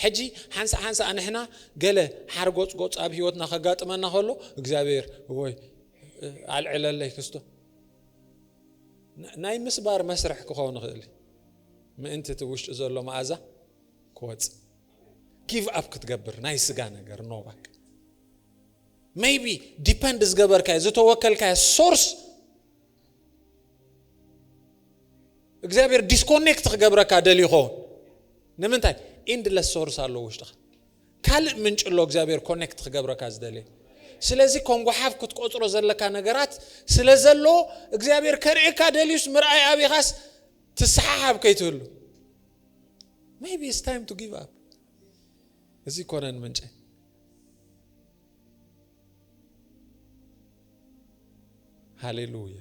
Speaker 1: ሕጂ ሓንሳእ ሓንሳእ ንሕና ገለ ሓርጎጽጎጽ ኣብ ህይወትና ከጋጥመና ከሎ እግዚኣብሔር ወይ ኣልዕለለይ ክስቶ ናይ ምስባር መስርሕ ክኸውን ይኽእል ምእንቲ እቲ ውሽጢ ዘሎ መኣዛ ክወፅእ ጊቭ ኣፕ ክትገብር ናይ ስጋ ነገር ኖባክ ሜይቢ ዲፐንድ ዝገበርካዮ ዝተወከልካዮ ሶርስ እግዚኣብሔር ዲስኮኔክት ክገብረካ ደልዩ ኸውን ንምንታይ ኢንድለስ ሶርስ ኣለዎ ውሽጥኻ ካልእ ምንጭ ኣሎ እግዚኣብሔር ኮኔክት ክገብረካ ዝደልየ ስለዚ ከም ጓሓፍ ክትቆፅሮ ዘለካ ነገራት ስለ ዘሎ እግዚኣብሔር ከርእየካ ደልዩስ ምርኣይ ኣብኻስ ትሰሓሓብ ከይትህሉ ሜቢ ኢትስ ታይም ቱ ጊቭ ኣፕ እዚ ኮነን ምንጨ ሃሌሉያ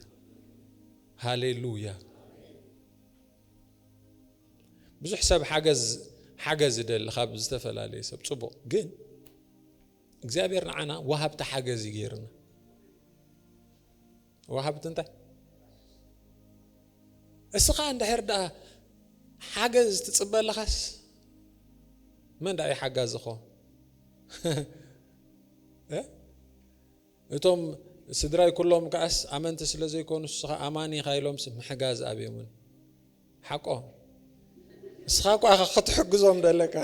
Speaker 1: ሃሌሉያ። ብዙሕ ሰብ ሓገዝ ሓገዝ ይደሊ ካብ ዝተፈላለየ ሰብ ጽቡቕ፣ ግን እግዚኣብሔር ንዓና ወሃብቲ ሓገዝ ይገይርና ወሃብቲ እንታይ እስኻ እንድሕር ደኣ ሓገዝ ትጽበ ኣለኻስ መን ደኣ እዩ ሓጋዝ ዝኾን እቶም ስድራይ ኩሎም ከኣስ ኣመንቲ ስለ ዘይኮኑ እስኻ ኣማኒ ኢኻ ኢሎምስ ምሕጋዝ ኣብዮምን ሓቆም እስኻ እኳ ኢኻ ክትሕግዞም ደለካ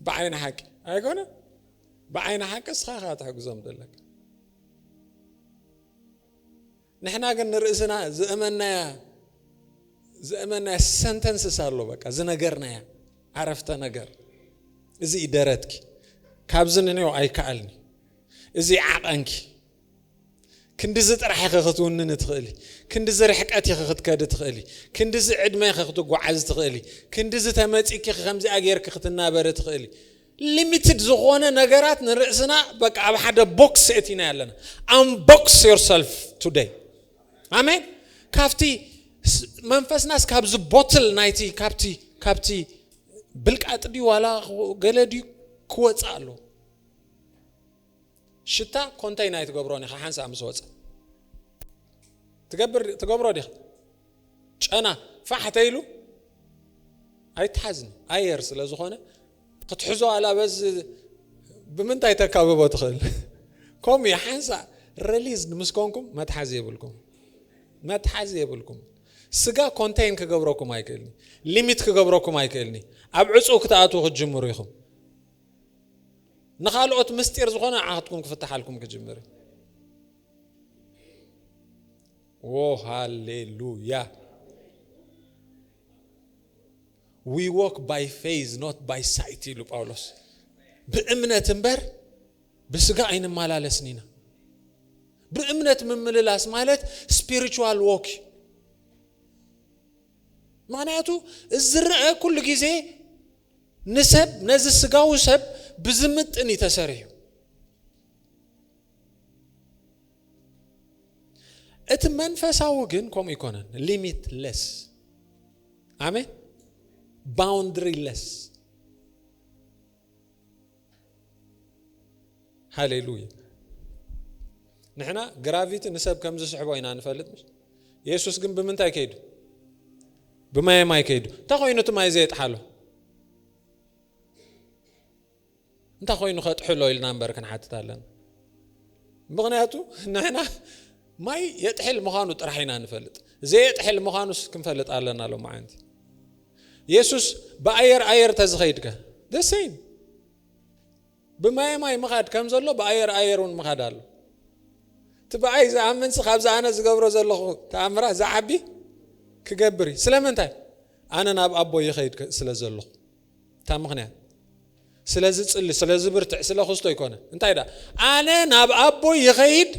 Speaker 1: ብዓይኒ ሓቂ ኣይኮነ ብዓይኒ ሓቂ እስኻ ኢኻ ክትሕግዞም ደለካ ንሕና ግን ንርእስና ዘእመናያ ዘእመናያ ሰንተንስስ ኣሎ በቃ ዝነገርናያ ዓረፍተ ነገር እዚ እዩ ደረትኪ ካብዚ ንንዮ ኣይከኣልኒ እዚ ዓቐንኪ ክንዲዚ ጥራሕ ኢኺ ክትውንን ትኽእሊ ክንዲዚ ርሕቀት ኢኺ ክትከዲ ትኽእሊ ክንዲዚ ዕድመ ኢኺ ክትጓዓዝ ትኽእሊ ክንዲዚ ተመፂኪ ከምዚኣ ጌርኪ ክትናበሪ ትኽእሊ ሊሚትድ ዝኾነ ነገራት ንርእስና በቃ ኣብ ሓደ ቦክስ የእቲናዮ ኣለና። ኣምቦክስ ዮርሰልፍ ቱደይ ኣሜን። ካብቲ መንፈስናስ ካብዚ ቦትል ናይቲ ካብቲ ካብቲ ብልቃጥ ድዩ ዋላ ገለ ድዩ ክወፅእ ኣለዎ። ሽታ ኮንተይን ኣይትገብሮን ኢኻ ሓንሳእ ምስ ወጸ ትገብር ትገብሮ ዲኻ ጨና ፋሕ ተይሉ ኣይትሓዝን ኣየር ስለ ዝኾነ ክትሕዞ ኣላ በዚ ብምንታይ ተካብቦ ትኽእል ከምኡ እዩ ሓንሳእ ረሊዝ ምስ ኮንኩም መትሓዚ የብልኩም መትሓዚ የብልኩም ስጋ ኮንተይን ክገብረኩም ኣይክእልኒ ሊሚት ክገብረኩም ኣይክእልኒ ኣብ ዕፁው ክትኣትዉ ክትጅምሩ ኢኹም ንኻልኦት ምስጢር ዝኾነ ንዓኻትኩም ክፍትሓልኩም ክጅምር እዩ ዎ ሃሌሉያ ዊ ዎክ ባይ ፌዝ ኖት ባይ ሳይት ኢሉ ጳውሎስ ብእምነት እምበር ብስጋ ኣይንመላለስን ኢና ብእምነት ምምልላስ ማለት ስፒሪቹዋል ዎክ እዩ ምክንያቱ ዝረአ ኩሉ ግዜ ንሰብ ነዚ ስጋዊ ሰብ ብዝምጥን እዩ ተሰሪሑ። እቲ መንፈሳዊ ግን ከምኡ ኣይኮነን። ሊሚት ለስ ኣሜን፣ ባውንድሪ ለስ ሃሌሉያ ንሕና ግራቪቲ ንሰብ ከም ዝስሕቦ ኢና ንፈልጥ ምሽ የሱስ ግን ብምንታይ ከይዱ ብማየ ማይ ከይዱ እንታይ ኮይኑ እቲ ማይ ዘየጥሓሎ እንታይ ኮይኑ ከጥሕሎ ኢልና እምበር ክንሓትት ኣለና ምክንያቱ ንሕና ማይ የጥሕል ምዃኑ ጥራሕ ኢና ንፈልጥ ዘየጥሕል ምዃኑስ ክንፈልጥ ኣለና ሎማዓንቲ የሱስ ብኣየር ኣየር ተዝኸይድከ the same ብማየ ማይ ምኻድ ከም ዘሎ ብኣየር ኣየር እውን ምኻድ ኣሎ እቲ ብኣይ ዝኣምንሲ ካብዚ ኣነ ዝገብሮ ዘለኹ ተኣምራት ዝዓቢ ክገብር እዩ ስለምንታይ ኣነ ናብ ኣቦ ይኸይድ ስለ ዘለኹ እታ ምኽንያት ስለ ዝጽሊ ስለ ዝብርትዕ ስለ ክስቶ ኣይኮነን እንታይ ደኣ ኣነ ናብ ኣቦይ ይኸይድ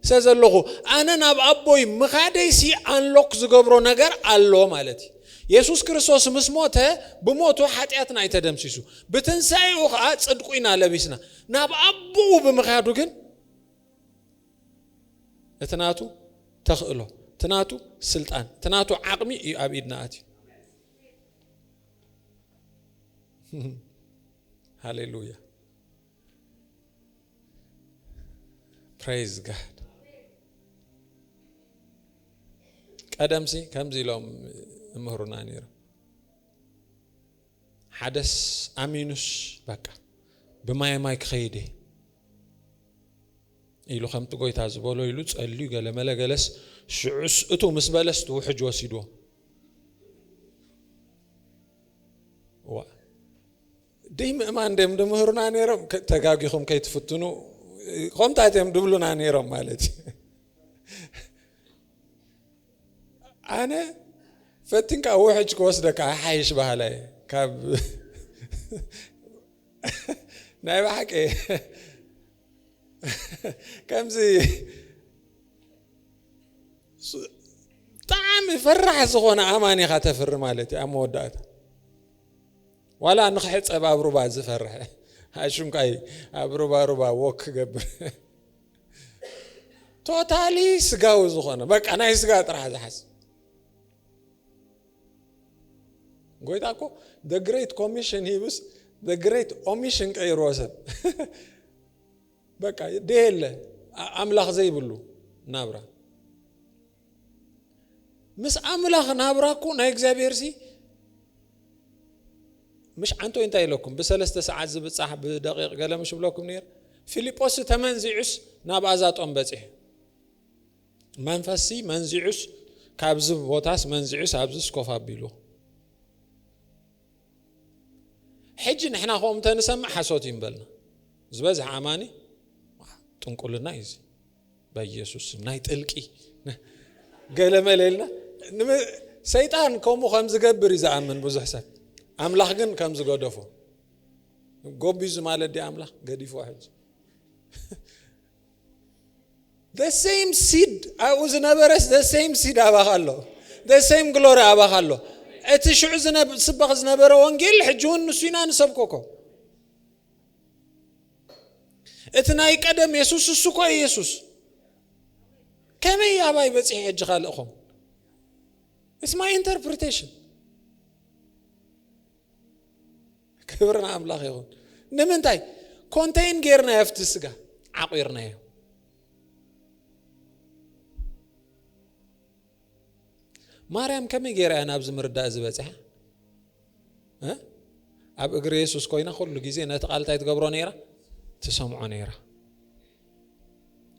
Speaker 1: ስለ ዘለኹ ኣነ ናብ ኣቦይ ምኻደይሲ ኣንሎክ ዝገብሮ ነገር ኣሎ ማለት እዩ የሱስ ክርስቶስ ምስ ሞተ ብሞቱ ሓጢኣትና እዩ ተደምሲሱ ብትንሳኤኡ ከዓ ጽድቁ ኢና ለቢስና ናብ ኣቦኡ ብምኻዱ ግን እቲ ናቱ ተኽእሎ እቲ ናቱ ስልጣን እቲ ናቱ ዓቕሚ እዩ ኣብ ኢድና ኣትዩ ሃሌሉያ ፕሬዝ ጋድ። ቀደምሲ ከምዚ ኢሎም እምህሩና ነይሩ ሓደስ ኣሚኑስ በቃ ብማይ ማይ ክኸይድ ኢሉ ከምቲ ጎይታ ዝበሎ ኢሉ ጸልዩ ገለመለ ገለስ ሽዑስ እቱ ምስ በለስ ትውሕጅ ወሲድዎ ዋእ ደይ ምእማን ደም ድምህሩና ነይሮም ተጋጊኹም ከይትፍትኑ ከምታት እዮም ድብሉና ነይሮም ማለት እዩ ኣነ ፈቲንካ ውሕጅ ክወስደካ ሓይሽ ባህላ እየ ካብ ናይ ባሓቂ ከምዚ ብጣዕሚ ፈራሕ ዝኾነ ኣማን ኢኻ ተፍሪ ማለት እዩ ኣብ መወዳእታ ዋላ ንክሕፀብ ኣብ ሩባ ዝፈርሐ ኣሽንኳይ ኣብ ሩባ ሩባ ወክ ክገብር ቶታሊ ስጋዊ ዝኾነ በቃ ናይ ስጋ ጥራሕ ዝሓስብ ጎይታ እኮ the great commission ሂብስ the great omission ቀይርዎ ሰብ በቃ ደየለ ኣምላኽ ዘይብሉ ናብራ ምስ ኣምላኽ ናብራ እኮ ናይ እግዚኣብሔር ሲ ምሽ ዓንቶ እንታይ ኢለኩም ብሰለስተ ሰዓት ዝብፃሕ ብደቂቕ ገለ ምሽ ብለኩም ነር ፊልጶስ ተመንዚዑስ ናብ ኣዛጦም በፂሑ መንፈስሲ መንዚዑስ ካብዚ ቦታስ መንዚዑስ ኣብዚስ ኮፍ ኣቢሉ ሕጂ ንሕና ከምኡ እንተንሰምዕ ሓሶት እዩ ንበልና ዝበዝሐ ኣማኒ ጥንቁልና እዩ እዚ በኢየሱስ ናይ ጥልቂ ገለመለ ኢልና ሰይጣን ከምኡ ከም ዝገብር እዩ ዝኣምን ብዙሕ ሰብ ኣምላኽ ግን ከም ዝገደፎ ጎቢዙ ማለት ዲ ኣምላኽ ገዲፎ ሕጂ ዘሰይም ሲድ ኣብኡ ዝነበረስ ዘሰይም ሲድ ኣባኻ ኣሎ ዘሰይም ግሎሪ ኣባኻ ኣሎ እቲ ሽዑ ስበኽ ዝነበረ ወንጌል ሕጂ እውን ንሱ ኢና ንሰብኮኮ እቲ ናይ ቀደም የሱስ እሱ እኮ የሱስ ከመይ ኣባይ በፂሒ ሕጂ ካልእኹም ኢትስ ማይ ኢንተርፕሪቴሽን ክብሪ ንኣምላኽ ይኹን ንምንታይ ኮንተይን ጌርናዮ ኣብቲ ስጋ ዓቑርናዮ ማርያም ከመይ ጌራ እያ ናብዚ ምርዳእ እዚ በፂሓ ኣብ እግሪ የሱስ ኮይና ኩሉ ግዜ ነቲ ቃል እንታይ ትገብሮ ነይራ ትሰምዖ ነይራ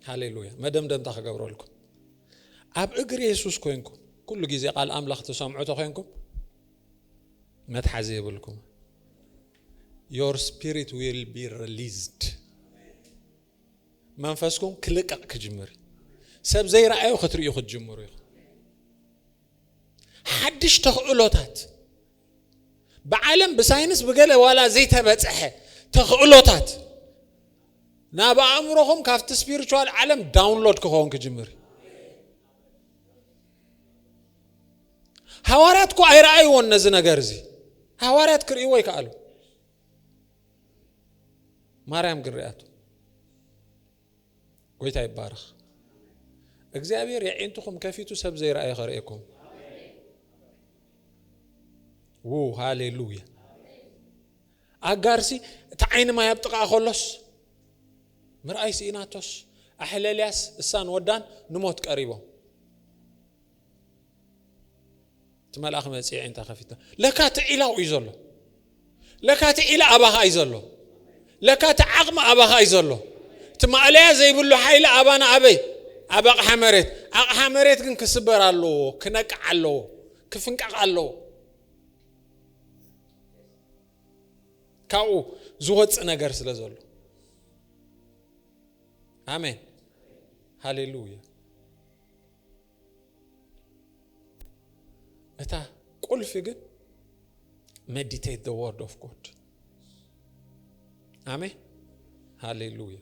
Speaker 1: ሃሌሉያ መደምደምታ ክገብረልኩም ኣብ እግሪ የሱስ ኮንኩም ኩሉ ግዜ ቃል ኣምላኽ ትሰምዑ ተኮንኩም መትሓዚ የብልኩም your spirit will be released መንፈስኩም ክልቀቕ ክጅምር ሰብ ዘይረኣዩ ክትርእዩ ክትጅምሩ ኢኹም ሓድሽ ተኽእሎታት ብዓለም ብሳይንስ ብገለ ዋላ ዘይተበፅሐ ተኽእሎታት ናብ ኣእምሮኹም ካብቲ ስፒሪቹዋል ዓለም ዳውንሎድ ክኸውን ክጅምር ሃዋርያት እኮ ኣይረኣይዎን ነዚ ነገር እዚ ሃዋርያት ክርእይዎ ይከኣሉ ማርያም ግን ርያቱ ጎይታ ይባረኽ እግዚኣብሔር የዒንትኹም ከፊቱ ሰብ ዘይረኣየ ከርእየኩም ው ሃሌሉያ ኣጋርሲ እቲ ዓይኒ ማይ ኣብ ጥቓኣ ከሎስ ምርኣይ ስኢናቶስ፣ ኣሕለልያስ እሳን ወዳን ንሞት ቀሪቦም። እቲ መልኣኽ መጺ ዓይንታ ከፊታ ለካ እቲ ዒላው እዩ ዘሎ ለካ እቲ ዒላ ኣባኻ እዩ ዘሎ ለካ እቲ ዓቕሚ ኣባኻ እዩ ዘሎ እቲ ማእለያ ዘይብሉ ሓይሊ ኣባና ኣበይ ኣብ ኣቕሓ መሬት ኣቕሓ መሬት ግን ክስበር ኣለዎ ክነቅዕ ኣለዎ ክፍንቀቕ ኣለዎ ካብኡ ዝወፅእ ነገር ስለ ዘሎ ኣሜን ሃሌሉያ እታ ቁልፊ ግን ሜዲቴት ዘ ወርድ ኦፍ ጎድ ኣሜን ሃሌሉያ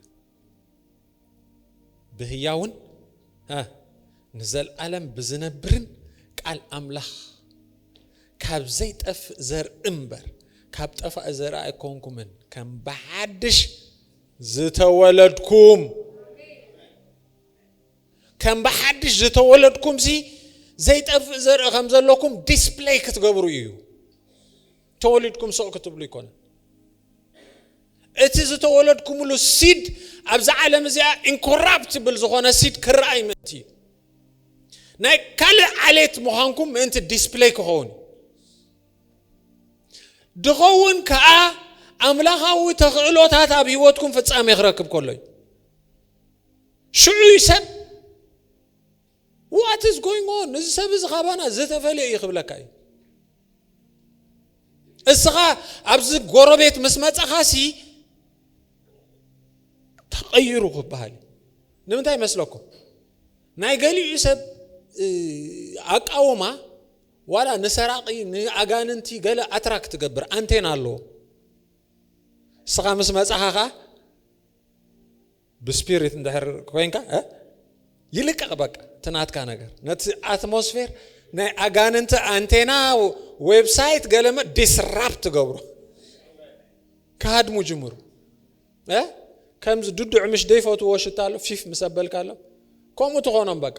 Speaker 1: ብህያውን ንዘልኣለም ብዝነብርን ቃል ኣምላኽ ካብ ዘይጠፍእ ዘርኢ እምበር ካብ ጠፋኢ ዘርኢ ኣይኮንኩምን ከም ብሓድሽ ዝተወለድኩም ከም ብሓድሽ ዝተወለድኩም ሲ ዘይጠፍእ ዘርኢ ከም ዘለኩም ዲስፕለይ ክትገብሩ እዩ ተወሊድኩም ስቕ ክትብሉ ኣይኮነን። እቲ ዝተወለድኩምሉ ሲድ ኣብዚ ዓለም እዚኣ ኢንኮራፕትብል ዝኾነ ሲድ ክረኣይ ምእንቲ እዩ። ናይ ካልእ ዓሌት ምዃንኩም ምእንቲ ዲስፕለይ ክኸውን ድኸውን ከዓ ኣምላኻዊ ተኽእሎታት ኣብ ህይወትኩም ፍጻሜ ክረክብ ከሎ እዩ ሽዑ እዩ ሰብ What is going on? እዚ ሰብ እዚ ካባና ዝተፈልየ እዩ ክብለካ እዩ። እስኻ ኣብዚ ጎረቤት ምስ መጻኻሲ ተቐይሩ ክበሃል እዩ። ንምንታይ ይመስለኩም? ናይ ገሊኡ ሰብ ኣቃውማ ዋላ ንሰራቂ ንኣጋንንቲ ገለ ኣትራክት ትገብር ኣንቴና ኣለዎ። እስኻ ምስ መጻኻ ብስፒሪት እንድሕር ኮይንካ እ ይልቀቕ በቃ እቲ ናትካ ነገር ነቲ ኣትሞስፌር ናይ ኣጋንንቲ ኣንቴና ዌብሳይት ገለመ ዲስራፕት ትገብሮ ክሃድሙ ጅምሩ እ ከምዚ ድዱዕ ምሽ ደይፈትዎ ሽታ ኣሎ ፊፍ ምስ ኣበልካ ኣሎ ከምኡ ትኾኖም በቃ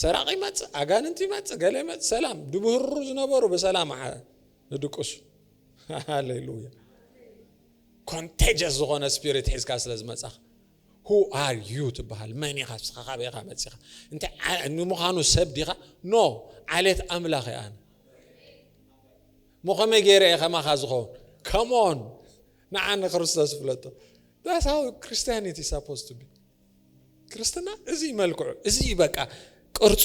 Speaker 1: ሰራቂ ይመፅእ ኣጋንንቲ ይመፅእ ገለ ይመፅእ ሰላም ድብህሩ ዝነበሩ ብሰላም ንድቅሱ ሃሌሉያ ኮንተጀስ ዝኾነ ስፒሪት ሒዝካ ስለ ዝመጻኻ ሁ ኣር ዩ ትበሃል መን ኢኻ ንስኻ ካበይ ኢኻ መፂኻ እንታይ ንምዃኑ ሰብ ዲኻ ኖ ዓሌት ኣምላኽ እየ ኣነ እሞ ከመይ ገይረ እየ ከማኻ ዝኸውን ከምኦን ንዓ ንክርስቶስ ፍለጦ ዳስ ሃው ክርስቲያኒቲ ሳፖዝ ቱ ቢ ክርስትና እዚ መልክዑ እዚ በቃ ቅርፁ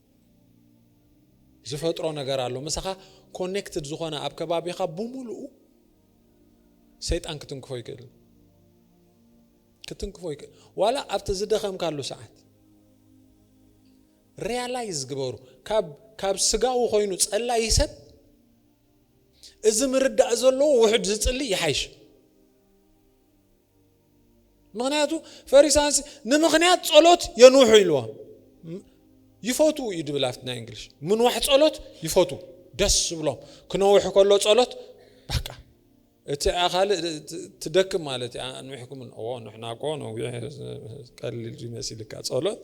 Speaker 1: ዝፈጥሮ ነገር ኣሎ ምሳኻ ኮኔክትድ ዝኾነ ኣብ ከባቢኻ ብሙሉኡ ሰይጣን ክትንክፎ ይክእል ክትንክፎ ይክእል ዋላ ኣብቲ ዝደኸምካሉ ሰዓት ሪያላይዝ ግበሩ ካብ ስጋዊ ኮይኑ ጸላይ ሰብ እዚ ምርዳእ ዘለዎ ውሕድ ዝጽሊ ይሓይሽ ምክንያቱ ፈሪሳንሲ ንምክንያት ጸሎት የንውሑ ኢልዋ ይፈቱ እዩ ድብል ኣብቲ ናይ እንግሊሽ ምንዋሕ ጸሎት ይፈቱ ደስ ዝብሎም ክነውሕ ከሎ ጸሎት በቃ እቲ ካልእ ትደክም ማለት እዩ ኣንዊሕኩም ንሕና ኮ ነዊሕ ቀሊል ይመስልካ ጸሎት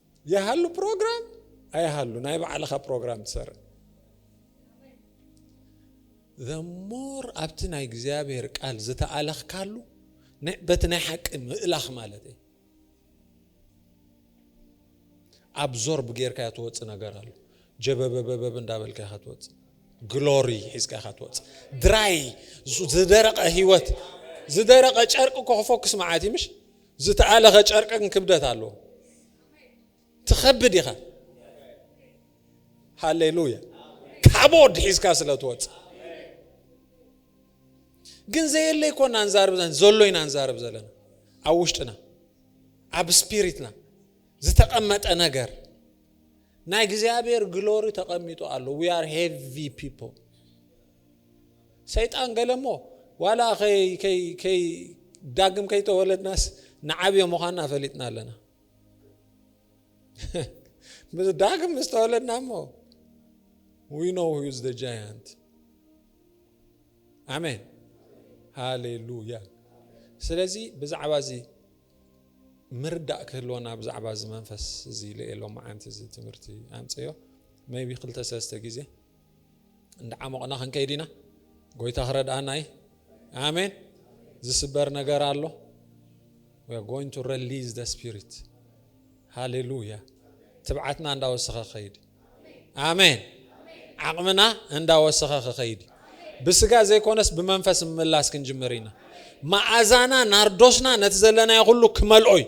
Speaker 1: ይሃሉ ፕሮግራም ኣይሃሉ ናይ ባዕልኻ ፕሮግራም ትሰርዕ ዘሞር ኣብቲ ናይ እግዚኣብሔር ቃል ዝተኣለኽካሉ በቲ ናይ ሓቂ ምእላኽ ማለት እዩ ኣብዞርብ ጌርካ እያ ትወፅእ ነገር ኣሎ ጀበበበበብ እንዳበልካ ኢኻ ትወፅእ ግሎሪ ሒዝካ ኢኻ ትወፅእ ድራይ ዝደረቐ ህይወት ዝደረቐ ጨርቂ ኮ ክፎክስ መዓት እዩ ምሽ ዝተኣለኸ ጨርቂ ግን ክብደት ኣለዎ። ትኸብድ ኢኻ። ሃሌሉያ። ካቦድ ሒዝካ ስለ ትወፅእ ግን ዘየለ ይኮና ንዛርብ ዘለና ዘሎ ኢና ንዛርብ ዘለና ኣብ ውሽጥና ኣብ ስፒሪትና ዝተቐመጠ ነገር ናይ እግዚኣብሔር ግሎሪ ተቐሚጡ ኣሎ ዊ ኣር ሄቪ ፒፕል ሰይጣን ገለ እሞ ዋላ ዳግም ከይተወለድናስ ንዓብዮ ምዃንና ፈሊጥና ኣለና። ዳግም ምስ ተወለድና እሞ ዊ ኖ ዩዝ ዘ ጃያንት ኣሜን ሃሌሉያ። ስለዚ ብዛዕባ እዚ ምርዳእ ክህልወና ብዛዕባ እዚ መንፈስ እዚ ልኤሎ መዓንቲ እዚ ትምህርቲ ኣምፅዮ መይቢ ክልተ ሰለስተ ግዜ እንዳዓሞቕና ክንከይድ ኢና ጎይታ ክረድኣና እዩ ኣሜን ዝስበር ነገር ኣሎ we are going to release the spirit ሃሌሉያ ትብዓትና እንዳወሰኸ ክኸይድ ኣሜን ዓቕምና እንዳወሰኸ ክኸይድ ብስጋ ዘይኮነስ ብመንፈስ ምምላስ ክንጅምር ኢና መዓዛና ናርዶስና ነቲ ዘለናዮ ኩሉ ክመልኦ እዩ